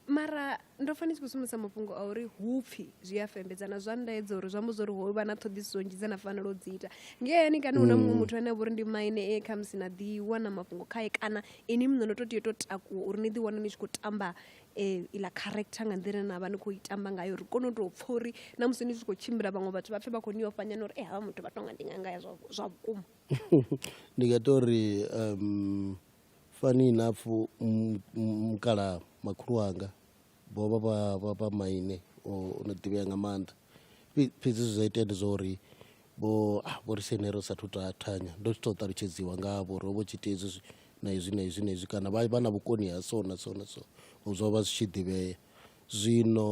mara ndo pfa ni tshi khou sumbisa mafhungo a uri hupfi zwi a fembedzana zwa ndaedza uri zwi amba zwa uri ho vha na ṱhoḓisiso nnzhi dza na fanela u dzi ita ngeyani kana hu na muṅwe mm. muthu ane a vhori ndi maine e khamusi na ḓi wana mafhungo khae kana ini muṋe no to tea to takuwa uri ni ḓi wana ni tshi khou tamba um iḽa character nga nḓila na vha ni khou i tamba ngayo ri kone u tou pfha uri na musi ni tshi khou tshimbila vhaṅwe vhathu vha pfe vha khou ni ofhanyana uri e eh, havha muthu vha tonga ndi nga ngaya zwa vhukuma ndi nga ita uri um fani inapfu mukala makhulu wanga vho vha vha vha vha maine o no ḓivhea nga maanḓa fhedzi zwe zwa itea ndi zwa uri vho ah, vho ri sene ro sathu ta thanya ndo tshi tou ṱalutshedziwa ngavho ro vho tshi ita hezwi na hezwi na hezwi na hezwi kana vha vha na vhukoni ha so na so na so zwo vha zwi tshi ḓivhea Zwino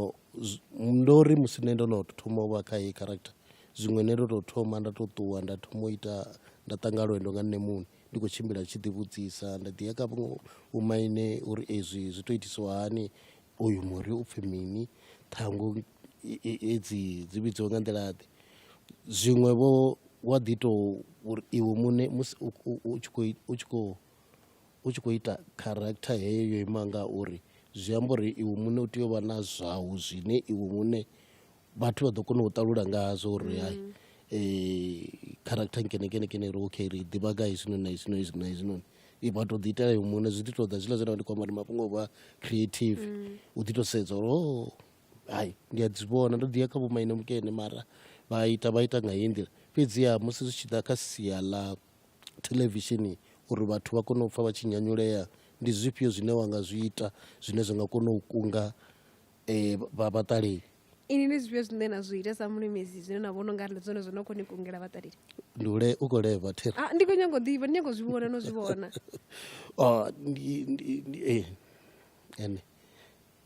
ndo ri musi nṋe ndo no thoma u vha kha heyi character zwiṅwe nṋe ndo tou thoma nda tou ṱuwa nda thoma u ita nda ṱanga lwendo nga nṋe muṋe ndi khou tshimbila ndi tshi ḓi vhudzisa nda ḓi ya kha vhaṅwe vho maine uri ezwi zwi to itisiwa hani uyu muri u pfhi mini ṱhangu hedzi dzi vhidziwa nga nḓila ḓe. Zwiṅwe vho wa ḓi to uri iwe muṋe musi u tshi kho u tshi kho. u tshi khou ita character heyo yo ima nga uri zwi amba uri iwe muṋe u tea u vha na zwau zwine iwe muṋe vhathu vha ḓo kona u ṱalula ngazwo uri hai character nkene nkene nkene ri okay ri ḓivha nga hezwinoni na hezwinoni hezwinoni na hezwinoni vha tou ḓi itela iwe muṋe zwi ḓi tou ḓa zwiḽa zwine ndi khou amba ndi mafhungo o vha creative u ḓi tou sedza uri hoo hai ndi a dzi vhona ndo ḓi ya kha vhomaine mukene mara vha ita vha ita nga heyi nḓila fhedziha musi zwi tshi ḓa kha sia ḽa theḽevishini uri vhathu vha kone u pfha vha tshi nyanyulea ndi zwifhio zwine wa nga zwi ita zwine zwa nga kona u kunga vha vhaṱaleli. Ini ndi zwifhio zwine na zwi ita sa mulimisi zwine na vhona ungari ndi zwone zwo no kho ni kungela vhaṱaleli? Ndi u le u khou leva thero. Ah ndi kho nyago ḓivha ndi nyago zwi vhona no zwi vhona. Oh ndi ndi ene.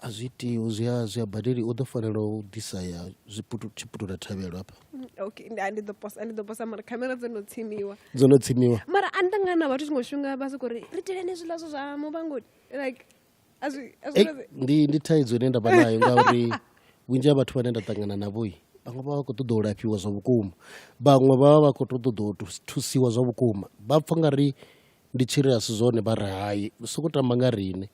a zwi iti zwi a zwi a badeli u ḓo fanela u ḓisa ya tshiputula thavhelo hafha mm, okay ndi ndi ḓo posa ndi ḓo posa mara khamera dzo no tsimiwa dzo no tsimiwa mara a nda ngana vhathu tshiṅwe tshifhinga vha soko ri ri teleni zwiḽa zwo zwa muvhangoni like a zwi a zwi ndi ndi thaidzo ine nda vha nayo ngauri vhunzhi ha vhathu vhane nda ṱangana navho i vhaṅwe vha vha khou ṱoḓa u lafhiwa zwa vhukuma vhaṅwe vha vha vha khou ṱoḓa u thusiwa zwa vhukuma vha pfa nga ri ndi tshiri a si zwone vha ri hai soko tamba nga riṋe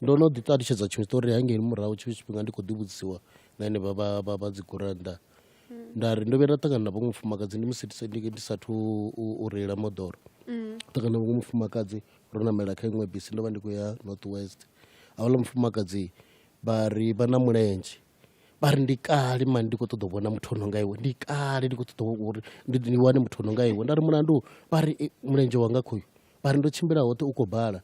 ndo no ḓi ṱalutshedza tshiṅwe tshiṱori hangei murahu tshiṅwe tshifhinga ndi khou ḓi vhudzisiwa na henevha vha vha vha dzi gurannda nda ri ndo vhuya nda ṱangana na vhaṅwe mufumakadzi ndi musi ndi sathu u reila moḓoro ṱangana na vhaṅwe mufumakadzi ro namela kha iṅwe bisi ndo vha ndi khou ya north west hauḽa mufumakadzi vha ri vha na mulenzhe vha ri ndi kale mani ndi khou ṱoḓa u vhona muthu ono nga iwe ndi kale ndi khou ṱoḓa uri ndi wane muthu ono nga iwe nda ri mulandu vha ri mulenzhe wanga khoyu vha ri ndo tshimbila hoṱhe u khou bala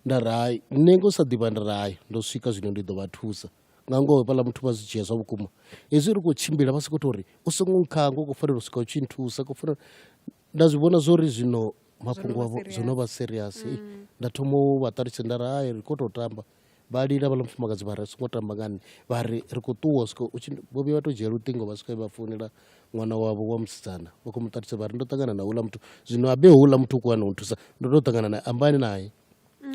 nda ri hai nṋe ngo sa ḓivha nda ri hai ndo swika zwino ndi ḓo vha thusa nga ngoho fhaḽa muthu vha zwi dzhia zwa vhukuma hezwi ri khou tshimbila vha sokou tou ri u songo nkhanga u khou fanela u swika u tshi nthusa khou fanela nda zwi vhona zwo ri zwino mafhungo avho zwo no vha serious mm. nda thoma u vha ṱalutshedza nda ri hai ri khou tou tamba vha lila vhala mufumakadzi vha ri a songo tamba nga nṋe vha ri ri khou ṱuwa swika u tshi vho vhuya vha to dzhia luṱingo vha swika vha founela ṅwana wavho wa musidzana vha khou mu ṱalutshedza vha ri ndo ṱangana na houḽa muthu zwino habe houḽa muthu u khou wana u thusa ndo to ṱangana naye ambani naye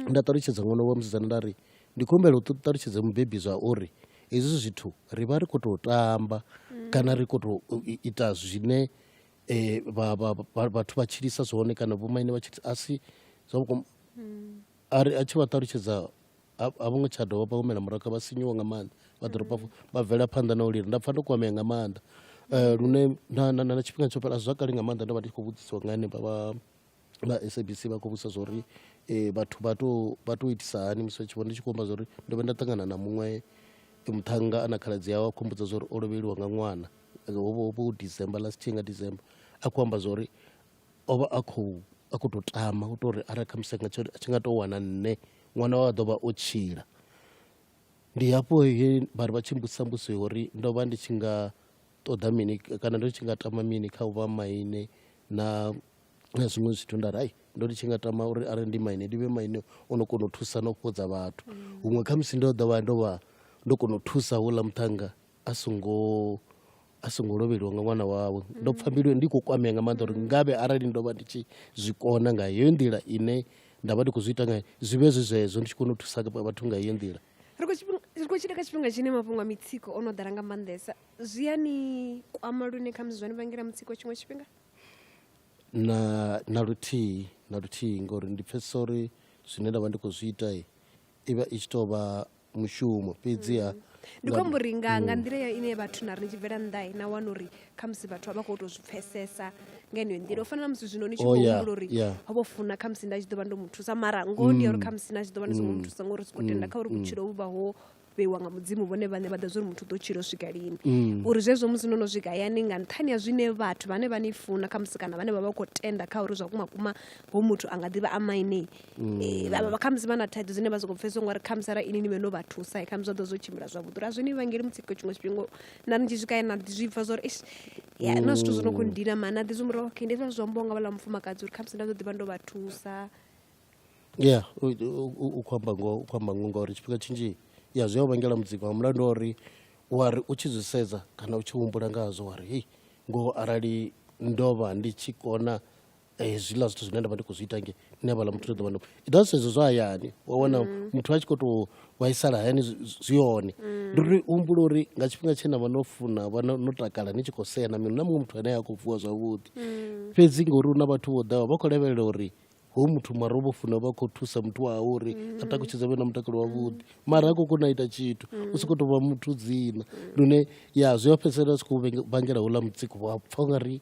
nda ṱalutshedza ṅwana wa musidzana nda ri ndi khou humbela u ṱu- ṱalutshedze mubebi zwa uri hezwi zwithu ri vha ri khou tou tamba kana ri khou tou u- i- ita zwine eh, vha- vha- vha- vhathu vha tshilisa zwone kana vhomaine vha tshilisa a si zwa vhukuma a ri a tshi vha ṱalutshedza a a vho ngo tsha dovha vha humela murahu kha vha sinyuwa nga maanḓa vha ḓo rofha vha bvela phanḓa na u lila nda pfa ndo kwamea nga maanḓa Eh, lune na na- na na tshifhinga tsho fhela zwa kale nga maanḓa ndo vha ndi tshi khou vhudzisiwa nga henevha vha vha sabc vha khou vhudzisa zwa uri eh, vhathu vha to vha to itisa hani musi vha tshi vhona ndi tshi khou amba zwa uri ndo vha nda ṱangana na muṅwe eh, muṱhannga a na khaladzi yawe a khou mbudza zwa uri o lovheliwa nga ṅwana Eh, ho vha- ho vha hu december last year nga december a khou amba zwa uri o vha a khou a khou tou tama u tou ri arali khamusi nga tsho a tshi nga tou wana nṋe ṅwana wa ḓo vha o tshila ndi hafho he vha ri vha tshi mbudzisa mbudziso ya uri ndo vha ndi tshi nga ṱoḓa mini kana ndo tshi nga tama mini kha u vha maine na na zwiṅwe zwithu nda ri ai ndo ndi tshi nga tama uri arali ndi maine ndi vhe maine o no kona u thusa na u fhodza vhathu huṅwe khamusi ndo ḓo vha ndo vha ndo kona u thusa houḽa muṱhannga a songo a songo lovheliwa nga ṅwana wawe ndo pfha mbilu ndi khou kwamea nga maanḓa uri ngavhe arali ndo vha ndi tshi zwi kona nga heyo nḓila ine nda vha ndi khou zwi ita ngayo zwi vhe zwi zwezwo ndi tshi kona u thusa vhathu nga heyo nḓila ri khou tshila kha tshifhinga tshine mafhungo a mitsiko o no ḓala nga maanḓesa zwi a ni kwama lune khamusi zwa ni vhangela mutsiko tshiṅwe tshifhinga na na luthihi na luthihi ngori ndi pfhesesa uri zwine nda vha ndi khou zwi ita i vha i tshi tou vha mushumo fhedziha mm. ndi khou amba uri nga nga mm. nḓila ine vhathu na ri tshi bvela nnḓa na wana uri khamusi vhathu a vha khou tou zwi pfesesa nga yeneyo nḓila u fana na musi zwino ni tshi oh, khou humbula uri ho vho funa khamusi nda tshi ḓo vha ndo mu thusa mara ngoho ndi ya uri mm. khamusi na tshi ḓo vha ndi songo mu thusa ngori siko tenda kha uri vhutshilo vhu vha ho vheiwa nga mudzimu vhone vhane vha ḓa zwa uri muthu ḓo tshilo swika lini mm. uri zwezwo musi no no swika hayani nga nṱhani ha zwine vhathu vhane vha ni funa khamusi kana vhane vha vha khou tenda kha uri zwa kuma kuma ho muthu a nga ḓivha a maine Eh, vha- vha- khamusi vha na thaidzo dzine vha soko pfesesa ngori khamusi ara ini ni vhe no vha thusa khamusi zwa ḓo zwo tshimbila zwavhuḓi uri a zwi ni vhangeli mutsiko tshiṅwe tshifhinga na ni tshi swika na ḓi zwi pfa zwa uri "Eish, ya na zwithu zwo no khou ndina mani na ḓi zwi murahu okay ndi zwa zwi ambiwa nga vhala mufumakadzi uri khamusi nda ḓo ḓivha ndo vha thusa ya u- u- u- u khou amba ngoho u khou amba ngoho ngauri tshifhinga tshinzhi ya zwi a u vhangela mutsiko nga mulandu wa uri wa ri u tshi zwi sedza kana u tshi humbula nga hazwo wa ri hei ngoho arali ndo vha ndi tshi kona hezwiḽa zwithu zwine nda vha ndi khou zwi ita nge nṋe havhala muthu ndi ḓo vha ndo it does sedzo zwa hayani wa wana mm. muthu a tshi khou tou vhaisala hayani zwi hone mm. ndi uri humbula uri nga tshifhinga tshe na vha no funa vha no takala ni tshi khou sea na mini na muṅwe muthu ane a khou vuwa zwavhuḓi mm. fhedzi ngori hu na vhathu vho ḓaho vha khou lavhelela uri ho muthu mara u vho funa vha khou thusa muthu wawe uri a takutshedza vhe na mutakalo wavhuḓi mara a khou kona ita tshithu u si khou tou vha muthu dzina lune ya zwi a fhedzisela zwi khou vhangela houḽa mutsiko wa pfha u nga ri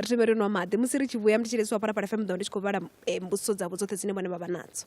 ri thome ri nwa maḓi musi ri tshi vhuya ndi tshi lesiwa phalaphala fm ḓo ndi tshi khou vhala eh, mbudziso dzavho dzoṱhe dzine vhone vha vha nadzo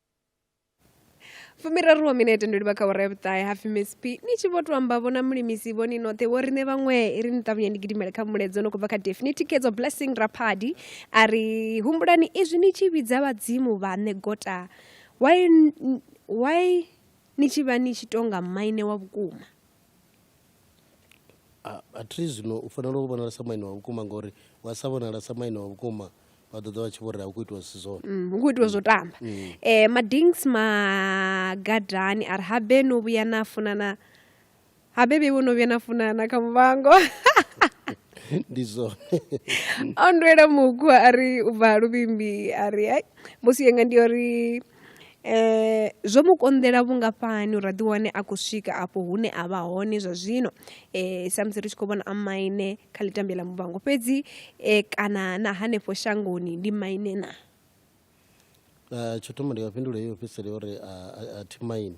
fumiraru wa minete ndo livha kha wara ya vhuṱahe hapfi miss p ni tshi vho to amba vhona mulimisi vhoni noṱhe vho riṋe vhaṅwe i ri ni ṱavhanye ndi gidimele kha muledzo no khou bva kha defini thikedzo blessing raphadi a ri humbulani izwi ni tshi vhidza vhadzimu vhaṋe gota why, why ni tshi vha ni tshi tonga maine wa vhukuma A, a thi zwino u fanela u vhonala sa maine wa vhukuma ngori wa sa vhonala sa maine wa vhukuma vha ḓo ḓa vha tshi vho ri a hu khou itiwa zwisi zwone Mm, hu khou itiwa zwo tamba um madings magadani a ri habe no vhuya na funana habe vheiwe no vhuya na funana kha muvhango ndi zwone o ndwela mukhwa a ri u bva luvhimbi a ri ai mbusi yanga ndi yo ri Zwo mu konḓela vhungafhani uri a ḓi wane a khou swika afho hune a vha hone zwa zwino sa musi ri tshi khou vhona a maine kha ḽi tambela ḽa Muvhango fhedzi kana na hanefho shangoni ndi maine na? Tsho thoma ndi nga fhindula heyo ofisiri uri a thi maine.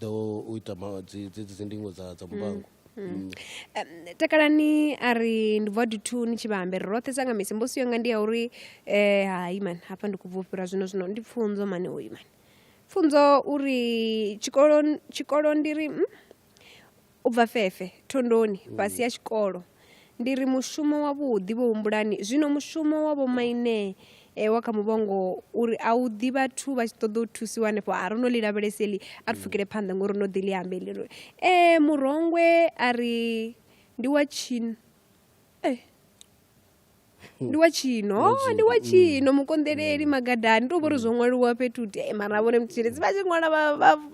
ḓo u ita dzedzi dzi ndingo dza dza muvhango mm. mm. takalani a ri ndi bva dithu ni tshi vha ambere roṱhe sa nga misi mbosi yanga ndi ya uri um hai mani hafha ndi khou bva u fhira zwino zwino ndi pfunzo mani oyu mani pfunzo uri tshikolo tshikolo ndi ri mm? U bva fefhe, thondoni, fhasi ha tshikolo. Ndi ri mushumo wavhuḓi vho humbulani zwino mushumo wa vhomaine e wa kha muvhongo uri a u ḓi vhathu vha tshi ṱoḓa u thusiwa hanefho a ro no ḽi lavhelesa eḽi a ri pfukele phanḓa ngori no ḓi ḽi ambe ḽi ri e murongwe a ri ndi wa tshino e ndi wa tshino oh, ndi wa tshino mm. mukonḓeleli magadani tou vhori zwo mm. ṅwaliwa fhethu te eh, mara vhone mutshitshedzi vha tshi ṅwala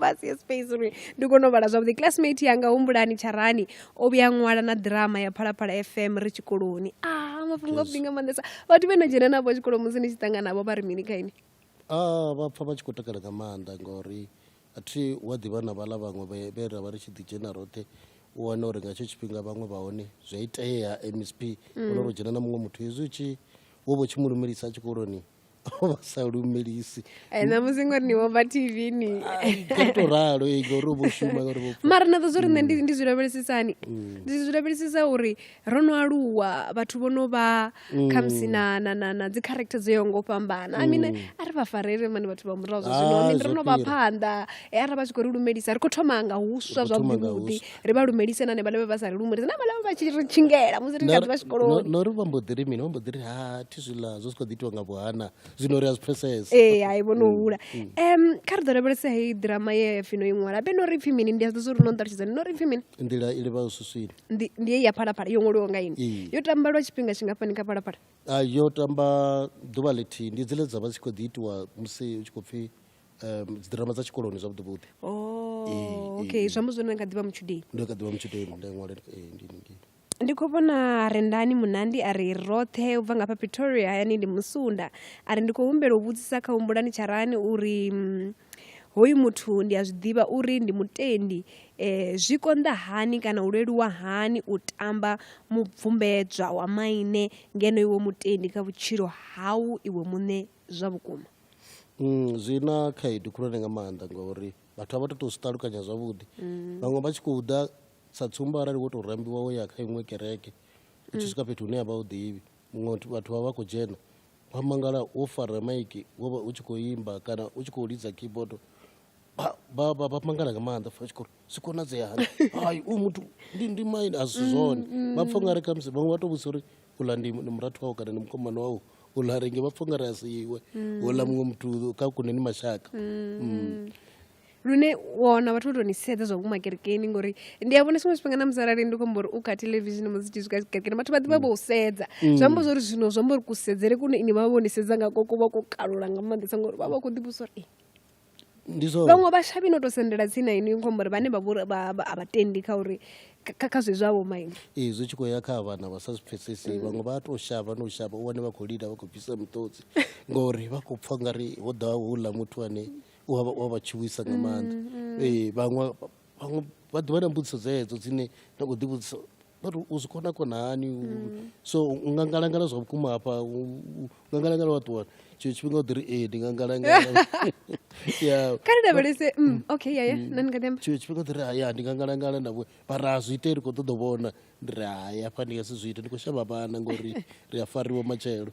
vha sie space uri ndi kone u vhala zwavhuḓi classmate yanga humbulani tsharani o vhuya ṅwala na ḓirama ya phalaphala fm ri tshikoloni a ah, mafhungo avhuḓi nga maanḓesa vhathu vhe na dzhena navho tshikolo musi ni tshi ṱangana navho vha ri mini kha ini ah, vha pfa vha tshi khou takala nga maanḓa ngori a thi hu a ḓivha na vhaḽa vhaṅwe vhe vhe ra vha ri tshi ḓi dzhena roṱhe u wana uri nga hetsho tshifhinga vhaṅwe vha hone zwi a itea msp ono ro dzhena na muṅwe muthu hezwi u tshi wo vho tshi mu lumelisa tshikoloni o vha sa lumelisi Eh, ṋamusi ngori ni vhomba tv ni kha to ralo ee, ngori u vho shuma ngori vho mara na ḓo zwo ri nṋe ndi- ndi zwi lavhelesisani ndi zwi lavhelesisa uri ro no aluwa vhathu vho no vha mm. khamusi na na na na dzi character dzo yaho ngo fhambana i mean mm. a ri vha farele mani vhathu vha murahu zwa zwino ah, i mean ro no vha phanḓa e ara vha tshi khou ri lumelisa ri khou thoma nga huswa zwavhuḓivhuḓi ri vha lumelise na ne vhalevhe vha sa ri lumelise na vhalevhe vha tshi ri tshingela musi ri khaḓi vha tshikoloni no ri vha mbo ḓi ri mini vha mbo ḓi ri ha thi zwiḽa zwo si khou ḓi itiwa nga vhuhana zwino ri a zwi pfesesa ee hai vho no mm, hula um kha ri ḓo lavhelesa heyi ḓirama ye fino i ṅwala be no ri pfhi mini ndi a zwi ḓo zwo ri no nṱalutshedzani no ri pfhi mini nḓila i livha u suswini ndi ya phalaphala yo ṅwaliwa nga ini yo tamba lwa tshifhinga tshingafhani kha phalaphala yo tamba ḓuvha ḽithihi ndi dzile dza vha dzi khou ḓi itiwa musi u tshi khou pfhi um dzi drama dza tshikoloni zwavhuḓi vhuḓi oh, okay zwi amba zwone kha ḓivha mutshudeni ndo kha ḓivha mutshudeni nda ṅwale ndi khou vhona rendani munandi a ri roṱhe u bva nga fha pretoria hayani ndi musunda a ri ndi khou humbela u vhudzisa kha humbulani tsharani uri mm, Hoyu muthu ndi a zwi ḓivha uri ndi mutendi. Zwi konḓa hani kana u leluwa hani u tamba mubvumbedzwa wa maine ngeno iwe mutendi kha vhutshilo hau iwe muṋe zwa vhukuma? Mm, zwi na khaedu khulwane nga maanḓa ngauri vhathu a vha to to zwi ṱalukanya zwavhuḓi vhaṅwe vha tshi khou ḓa sa tsumbo arali wo to rambiwa wo ya kha iṅwe kereke u tshi swika fhethu hune ya vha u ḓivhi muṅwe vhathu vha vha khou dzhena wa mangala wo fara maiki wo vha u tshi khou imba kana u tshi khou lidza keyboard vha- vha vha- vha mangala nga maanḓa fa tshikolo zwi konadzea hani hayi u muthu ndi ndi maine a si zwone vha pfha ungari khamusi vhaṅwe vha tou vhudzisa uri uḽa ndi ndi murathu wau kana ndi mukomana wau uḽa renge vha pfha ungari a si iwe uḽa muṅwe muthu kha kune ni mashaka Mm. lune wa wana vhathu vho tou ni sedza zwa vhukuma kerekeni ngori ndi a vhona tshiṅwe tshifhinga na musi arali ndi khombo uri u kha television musi tshi swika kerekeni vhathu vha ḓivha vho u sedza mm. zwi amba zwori zwino zwi amba uri kusedzele kune ini vha vha vho ni sedza nga ko kuvha ko kalula nga maanḓesa ngori vha vha khou ḓivhusa uri vhaṅwe vhashavhi no tou sendela tsini na ini khombo uri vhane vha vhori a vha tendi kha uri kha zwe zwavho maine ee zwi tshi khou ya kha vhana vha sa zwi pfesesi mm. vhaṅwe vha tou shavha no shavha u wane vha khou lila vha khou bvisa muṱotsi ngori vha khou pfha ngari ho ḓaho houḽa muthu ane u a vha- u a vha tshuwisa nga maanḓa Eh, vhaṅwe vhaṅwe vha ḓivha na mbudziso dzedzo dzine nda khou ḓivhudzisa but u zwi kona kona hani U- so u nga ngalangala zwa vhukuma hafha u- u- u nga ngalangala wa ṱuwa tshiṅwe tshifhinga u ḓi ri ee ndi nga ngalangala Yeah. kha ri lavhelese mm, okay yaya nani nga ḓi amba tshiṅwe tshifhinga u ḓi ri haya ndi nga ngalangala na vho mara a zwi ite ri khou ṱoḓa u vhona ndi ri hai hafha ndi nga si zwi ite ndi khou shavha vhana ngori ri a fariwa matshelo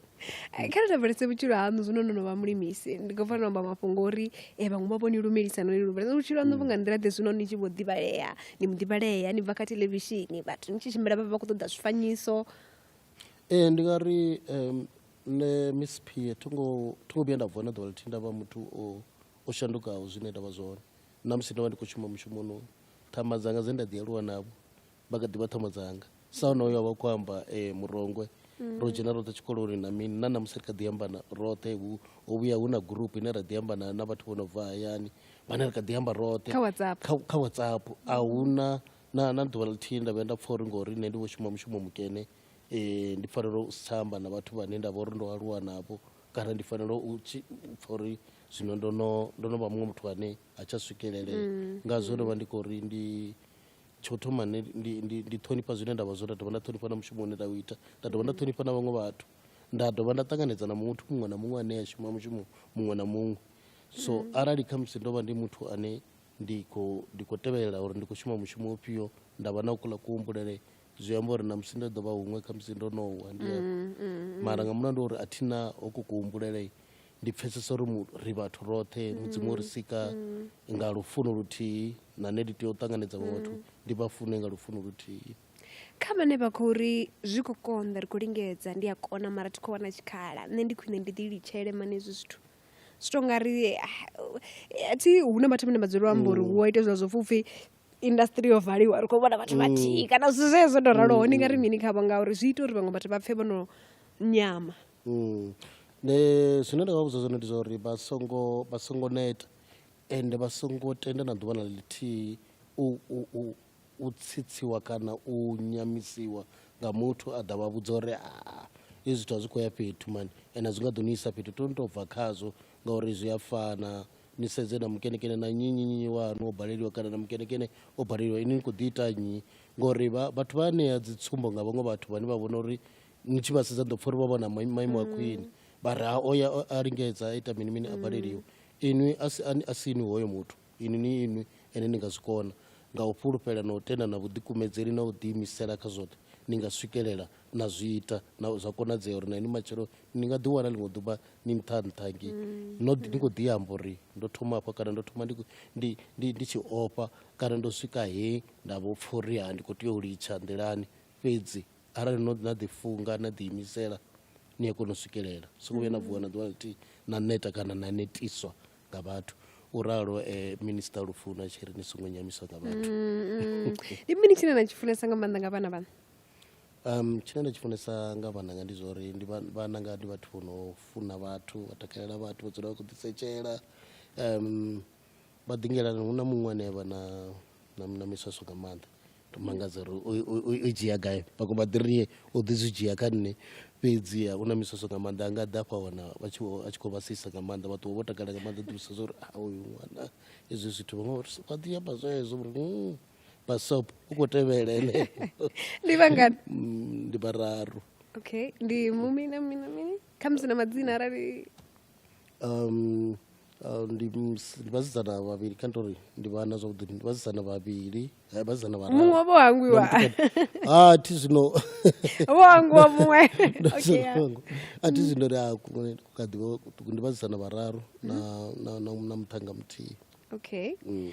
eh, kha ri lavhelese vhutshilo haṋu zwino no no vha mulimisi ndi khou fanela amba mafhungo uri um vhaṅwe vha vho ni lumelisa no ni lumelisa vhutshilo haṋu vhu nga nḓila ḓe zwino ni tshi vho ḓivhalea ni mu ḓivhalea ni bva kha televishini vhathu ni tshi tshimbila vha vha khou ṱoḓa zwifanyiso ee ndi nga ri um nṋe miss pie thi ngo vhuya nda vuwa na ḓuvha ḽithihi nda vha muthu o shandukaho zwine nda vha zwone na musi ndo vha ndi khou shuma mushumoni thama dzanga dze nda ḓi aluwa navho vha kha ḓivha thomo dzanga sa honoyo a vha khou amba um murongwe ro dzhena roṱhe tshikoloni na mini na namusi ri kha ḓi amba na- roṱhe hu ho vhuya hu na gurupu ine ra ḓi amba na na vhathu vho no bva hayani vhane ri kha ḓi amba roṱhe Kha WhatsApp. kha, kha whatsapp a huna na, na ḓuvha ḽithihi nda vhuya nda pfa uri ngori nṋe ndi vho shuma mushumo mukene um ndi fanela u si tsha amba na vhathu vhane nda vha uri ndo aluwa navho kana ndi fanela u tshi- u pfa uri zwino ndo no ndo no vha muṅwe muthu ane ha tsha swikelelea ngazwo ndo vha ndi khou ri ndi tsho thoma nṋe ndi, ndi, ndi ṱhonifha zwine nda vha zwo nda dovha nda ṱhonifha na mushumo une nda u ita nda dovha nda ṱhonifha na vhaṅwe vhathu nda dovha nda ṱanganedza na muthu muṅwe na muṅwe ane a shuma mushumo muṅwe na muṅwe so arali khamusi ndo vha ndi muthu ane ndi khou ndi khou tevhelela uri ndi khou shuma mushumo ufhio nda vha na u kula kuhumbulele zwi amba uri na musi ndo ḓo vha huṅwe khamusi ndo no wa ndi mara nga mulandu wa uri a thi na hoko kuhumbulele ndi pfesesa uri ri vhathu roṱhe mudzimu o ri sika nga lufuno luthihi na nṋe ndi tea u ṱanganedza vhaṅwe vhathu ndi vha fune nga lufuno luthihi kha vhane vha khou ri zwi khou konḓa ri khou lingedza ndi a kona mara thi khou wana tshikhala nṋe ndi khwine ndi ḓi litshele mani hezwi zwithu zwi to nga ri ah, athi hu na vhathu vhane vha dzula amba uri mm. wo ita zwa zwo pfupfi industry yo valiwa ri khou vhona vhathu mm. vhathihi kana zwithu zwezwo ndo raloho ndi nga ri mm. mini khavho ngauri zwi ita uri vhaṅwe vhathu vha pfhe vho no nyama Mm. Ne zwine nda nga vhudza zwone ndi zwa uri vha songo vha songo neta ende vha songo tenda na ḓuvha na ḽithihi u, u, u, u tsitsiwa kana u nyamisiwa nga muthu a ḓa vha vhudza uri aa hezwi zwithu a zwi khou ya fhethu mani ende a zwi nga ḓo ni isa fhethu to ni tou bva khazwo ngauri zwi a fana ni sedze na mukenekene na nnyi nnyi nnyi wanu o baleliwa kana na mukenekene o baleliwa ini ni khou ḓi ita nnyi ngori vha- vhathu vha ṋea dzi tsumbo nga vhaṅwe vhathu vhane vha vhona uri ni tshi vha sedza ndo pfha uri vha vha na maimo a khwine vha ri ha o ya a lingedza a ita mini mini a baleliwa inwi a si inwi hoyo muthu inwi ni inwi ene ni nga zwi kona nga u fhulufhela na u tenda na vhuḓikumedzeli na u ḓiimisela kha zwoṱhe ni nga swikelela na zwi ita na zwa konadzea uri na ini matshelo ni nga ḓiwana ḽiṅwe ḓuvha ni nṱha nṱha ngi no ni khou ḓi amba uri ndo thoma hafha kana ndo thoma ndi ndi ndi ndi tshi ofha kana ndo swika he nda vho pfha uri ha ndi khou tea u litsha nḓilani fhedzi arali no na ḓifunga na ḓiimisela ni a kona u swikelela songo vhuya na vuwa na ḓuvha ḽithihi na neta kana na netiswa nga vhathu u ralo um eh, minista lufuna tshi ri ni songo nyamiswa nga vhathu mm, mm. ndi mini tshine na tshi funesa nga maanḓa nga vhana vhana um tshine nda tshi funesa nga vhananga ndi zwa uri ndi vhananga ndi vhathu vho no funa vhathu vha takalela vhathu vha dzula vha khou ḓisetshela um vha ḓingelani hu na muṅwe ane vha na na na miswaswo nga maanḓa to mangadza uri u- u- u- u dzhia gai vhaṅwe vha ḓi rie u ḓi zwi dzhia kha nṋe fhedziha u na miswaswo nga maanḓa a nga ḓa afha wana vha tshi vho- a tshi khou vha sisa nga maanḓa vha ṱuwa vho takala nga maanḓa ḓivhisa zwa uri a uyu ṅwana hezwi zwithu vhaṅwe vha ri- vha ḓi amba zwezwo uri "Mm, basop u khou tevhela ene ndi vhangani Mm, ndi vhararu okay ndi mumi na mini na mini khamusi na madzina arali um, uh, ndi ms- ndi vhasidzana vhavhili kha tori ndi vhana zwavhuḓi ndi vhasidzana vhavhili eh, vhasidzana vhararu. muṅwe vho hangwiwa Na mutukana. Ah, thi zwino vho hangwiwa muṅwe okay, ya. Songo. a thi zwino ri a ku- ku kha ḓi vha kuṱuku ndi vhasidzana vhararu na na- na- na muṱhannga muthihi okay Mm.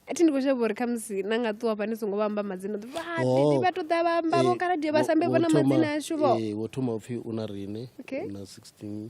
athi ndi khou shavha uri khamusi na nga ṱuwa fhani songo vha amba madzina ḓi Oh. vha ṱoḓa vha amba vho Eh, khaladie vha wo- sambe wo vhona thoma- madzina ashu vho eh, wo thoma upfi u na rine Okay. u na 16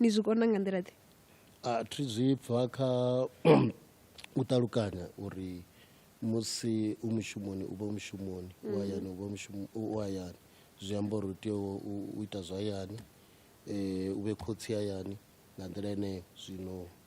ni zwi kona nga nḓila ḓe a thi zwi pfha kha u ṱalukanya uri musi u mushumoni u vha mushumoni u hayani u vha mushumo u hayani zwi amba uri u tea u ita zwa hayani um u vhe khotsi hayani nga nḓila yeneyo zwino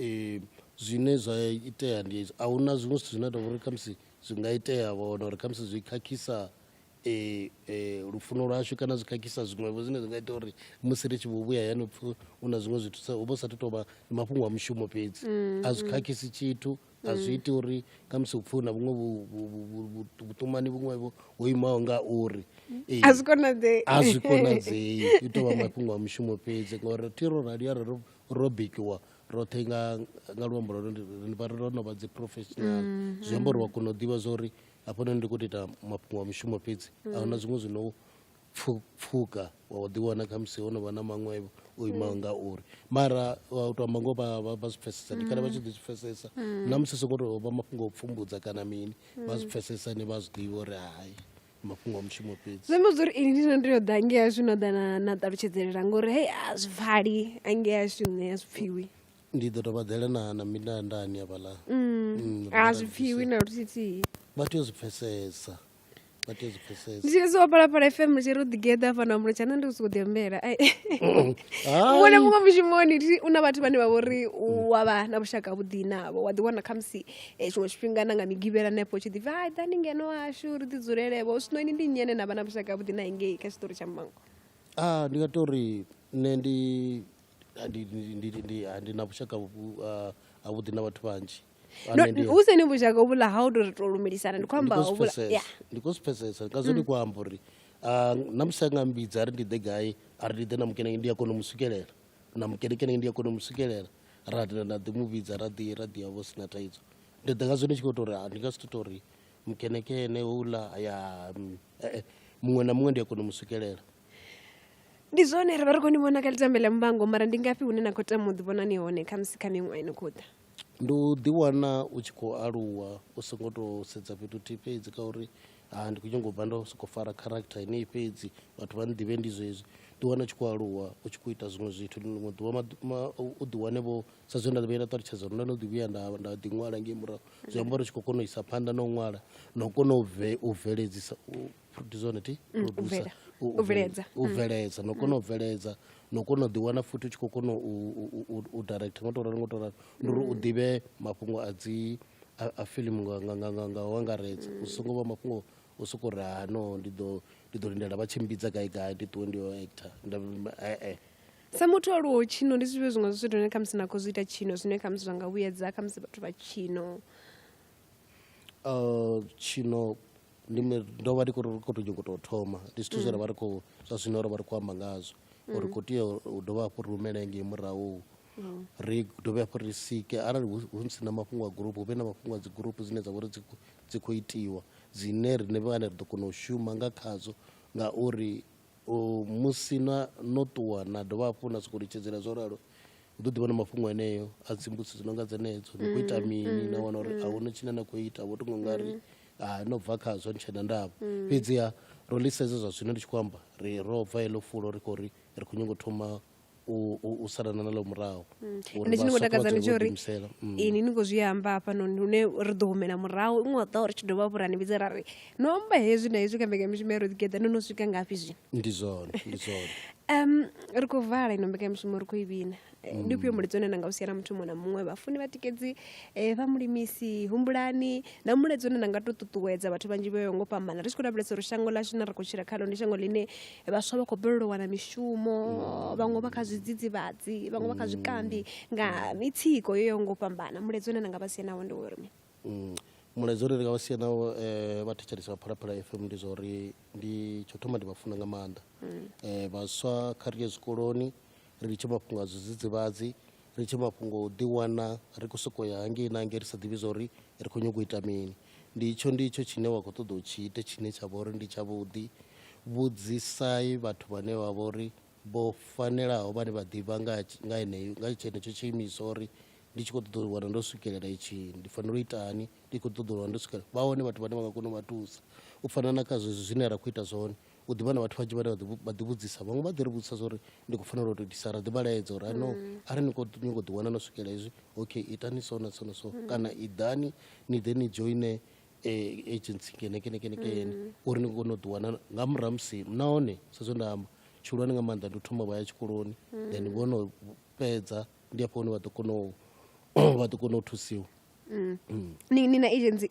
Ee, zwine zwa itea ndi hezwi, a hu na zwiṅwe zwithu zwine a tou uri khamusi zwi nga itea vha wana uri khamusi zwi khakhisa eh, eh, lufuno lwashu kana zwi khakhisa zwiṅwevho zwine zwi nga ita uri musi ri tshi vho vhuya hayani pfhi hu na zwiṅwe zwithu sa hu vha hu sathu tou vha ndi mafhungo a mushumo fhedzi a zwi khakhisi tshithu a zwi iti uri khamusi hu pfhi hu na vhuṅwe vhu- vhu- vhu- vhu- vhu- vhuṱumani vhuṅwevho ho imaho nga uri Eh, a zwi konadzei a zwi konadzei i tou vha mafhungo a mushumo fhedzi ngauri thi ro rali arali ro ro bikiwa roṱhe nga nga luambo lwa ri vha ro no vha dzi professional mm-hmm. zwi amba uri wa kona u ḓivha zwa uri hafhanoni ndi khou tou ita mafhungo a mushumo fhedzi a huna zwiṅwe zwi no pfuka wa u ḓiwana kha musi ho no vha na maṅwe o imaho mm. nga uri mara wa u tou amba ngoho vha zwi pfesesa ndi kale vha tshi ḓi zwi pfesesa mm. na musi sokou tou vha mafhungo o pfumbudza kana mini vha zwi mm. pfesesa ni vha zwi ḓivha uri hai mafhungo a mushumo fhedzi zwi amba zwa uri ini ndi no tea u ḓa angei ashu no ḓa na na ṱalutshedzelela ngori hei a zwi pfali angei ashu nṋe a zwi pfhiwi ndi ḓo tou vhaḓela na na mindandani avhaḽa mm, a zwi pfhiwi na luthithihi vha tea u zwi pfesesa vha tea u zwi pfesesa ndi tshiri siwa phalaphala fm ndi tshiri u ḓigeḓa hafha na mulo tshana ndi u soko ḓi ambela muṅwe muṅwe mushumoni u na vhathu vhane vha vhori wa vha na vhushaka vhuḓi navho wa ḓiwana khamusi Eh, tshiṅwe tshifhinga na nga migivhela hanefho tshi ḓi bva ḓani ngeno hashu ri ḓi dzulelevho zwino ini ndi nyene na vha na vhushaka vhuḓi na ingei kha tshiṱori tsha mmango ah, ndi nga to ri nṋe ndi ndi na vhushaka havhuḓi na vhathu vhanzhi hu seni vhushaka uvhula ha u to ri to lumelisana ndi khou amba ndi khou zwi pfesesa nga zwo ndi mm. khou amba uri na musi a nga mbidza a ri ndi ḓe gai a ri ndi ḓe na mukene ndi a kona u mu swikelela na mukenekene ndi a kona u mu swikelela ra tenda nda ḓi mu vhidza ra ḓi ra ḓi ya vho sina thaidzo ndi ḓi ngazwo ndi tshi khou tou ri ndi nga si tou tou ri mukenekene houḽa ya mm, eh, eh, muṅwe na muṅwe ndi a kona u mu swikelela ndi zwone ri vha ri khou ni vhona kha litambe ḽa muvhango mara ndi ngafhi hune na khou tama u ḓivhona ni hone khamusi kha miṅwaha ino khou ḓa ndi u ḓiwana u tshi khou aluwa u songo tou sedza fhethu thihi fhedzi ka uri ha ndi khou nyanga u bva ndo sokou fara character yeneyi fhedzi vhathu vha nḓivhe ndi zwezwi ḓi wana tshi khou aluwa u tshi khou ita zwiṅwe zwithu ḽiṅwe ḓuvha u ḓi wane vho sa zwe nda vhuya nda ṱalutshedza uri nda no ḓi vhuya nda nda ḓi ṅwala ngei murahu zwi amba uri tshi khou kona u isa phanḓa na u ṅwala na u kona u bve u bveledzisa u producer neti mm, producer u bveledza mm. na u kona u bveledza na u kona u ḓiwana futhi u tshi khou kona u direct ngo to ralo ngo to ralo ndi uri u ḓivhe mafhungo a dzi a filimu nga u angaredza u songo vha mafhungo o sokou ri ha no ndi ḓo ndi ḓo lindela vha tshimbidza gai gai ndi ṱuwe ndi yo actor ee sa muthu o luwo tshino ndi zwifhio zwiṅwe zwa zwithu zwine khamusi na khou zwi ita tshino zwine khamusi zwa nga vhuyedza khamusi vhathu vha tshino uh, tshino ndime ndo vha ndi khou khou tou nyongo tou thoma ndi zwithu zwe ra vha ri khou zwa zwino ro vha ri khou amba ngazwo uri khou tea u dovha hafhu ri humele ngei murahu ri dovhe hafhu ri sike arali hu hu si na mafhungo a gurupu hu vhe na mafhungo a dzi gurupu dzine dza vha uri dzi khou- dzi khou itiwa dzine riṋe vhane ri ḓo kona u shuma nga khadzo ngauri U, musi na, no ṱuwa na dovha hafhu na sokou litshedzela zwo ralo ni ḓo ḓi vhona mafhungo eneo a dzimbusi dzi no nga dzenedzo ni khou ita mini na wana uri a hu na tshine na khou ita vho tonga u nga ri a no bva khazwo ni tshena ndavha fhedziha ro ḽisedza zwa zwino ndi tshi khou amba ri ro bva heḽo fulo ri khou ri ri khou nyanga u thoma u, u, u salana na ḽo murahu mm. ende tshine ngo takadza ndi tsho uri mm. ini ni khou zwi amba hafhanoni hune ri ḓo humela murahu iṅwe wa ṱaho ri tshi dovha vhurani vhidze ra ri no amba hezwi na hezwi kha mbekamishumo ya roḓigeḓa no no swika ngafhi zwino ndi zwone ndi zwone um ri khou vala ino mbekamishumo ri khou i vhina eh, ndi ufhio mm. mulidzo une na nga u siela muthu muṅwe na muṅwe vhafuni vhatikedzi eh, vha mulimisi humbulani na mulidzo une na nga tou ṱuṱuwedza vhathu vhanzhi vho yo ngo fhambana ri tshi khou lavhelesa uri shango ḽashu na ri khou tshila khalo ndi shango ḽine vhaswa vha khou balelwa u wana mishumo vhaṅwe vha kha zwidzidzivhadzi vhaṅwe vha kha zwikambi nga mitsiko yo yaho ngo fhambana mulaedza une na nga vha sie nawo ndi uri mi mm. mulaedza une ndi nga vha sie nawo um eh, vha thetshelesa vha phalaphala fm ndi zwa uri ndi tsho thoma ndi vha funa nga maanḓa um vhaswa kha ri ye zwikoloni ri litshe mafhungo a zwidzidzivhadzi ri litshe mafhungo o ḓiwana ri khou sokou ya hangei na hangei ri sa ḓivhi zwa uri ri khou nyanga u ita mini ndi itsho ndi itsho tshine wa khou ṱoḓa u tshi ite tshine tsha vha uri ndi tshavhuḓi vhudzisai vhathu vhane vha vha uri vho fanelaho vhane vha ḓivha nga nga heneyo nga tshenetsho tshiimiswa uri ndi tshi khou ṱoḓa u wana ndo swikelela itshi ndi fanela u itani ndi khou ṱoḓa u wana ndo swikelela vha hone vhathu vhane vha nga kona u vha thusa u fana na kha zwezwi zwine ra khou ita zwone u ḓivha na vhathu vhanzhi vhane vha ḓi vhudzisa vhaṅwe vha ḓi ri vhudzisa zwauri ndi khou fanela u to itisa ra ḓi vha laedza uri ano mm. a ri ni khou nyongo ḓi wana no swikela hezwi okay itani so na so na so mm. kana i ḓani ni ḓe ni joine eh, agency kenekenekenekene mm. uri ni kone u ḓi wana nga murahu musi nahone sa zwe nda amba tshihulwane nga maanḓa ndi u thoma vha ya tshikoloni then vho no fhedza ndi afho hune vha ḓo kona u vha ḓo kona u thusiwa ni na agency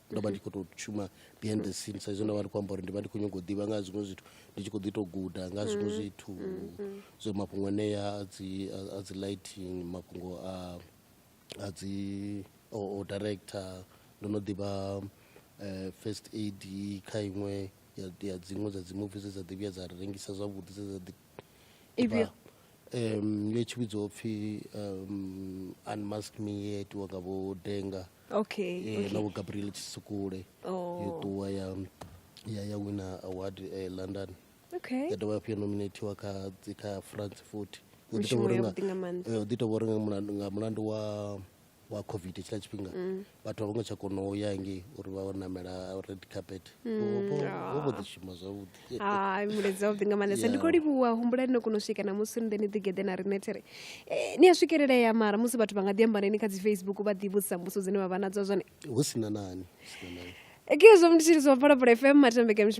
ndo vha ndi khou tou shuma behind the scene saizwi ndo vha ndi khou amba uri ndi vha ndi khou nyanga u ḓivha nga zwiṅwe zwithu ndi tshi khou ḓi tou guda nga zwiṅwe mm, zwithu mm, mm. so mafhungo anea a dzi a dzi lighting mafhungo a a dzi o director ndo no ḓivha eh, first aid kha iṅwe ya dziṅwe dza dzi movie dze dza ḓivhiya dza rengisa zwavhuḓi dze dza ḓi um yo tshi vhidzwa upfhi um unmask me ye itiwa nga vho denga okay, eh, okay. la vho gabriel tshisukule oh. yo ṱuwa ya ya ya wina award eh, london okay. ya dovha hafhu ya nominatiwa kha kha france futhi u ḓi tovha uri eh, nga mulandu wa wa covid tshiḽa tshifhinga mm. vhathu a vho ngo tsha kona u ya nge uri vha namela red carpet mm. vho vho ḓi shuma zwavhuḓi hai mulezi wavhuḓi nga maanḓesa ndi khou livhuwa humbulani no kona u swika namusi ni ḓe ni ḓigeḓe na riṋe there eh, ni a swikelelea mara musi vhathu vha nga ḓi ambaneni kha dzi facebook vha ḓi vhudzisa mbuso dzine vha vha nadzo zwone hu si na nani hu si na nani ekizwo mnditshiriso wa phalaphala fm matambeke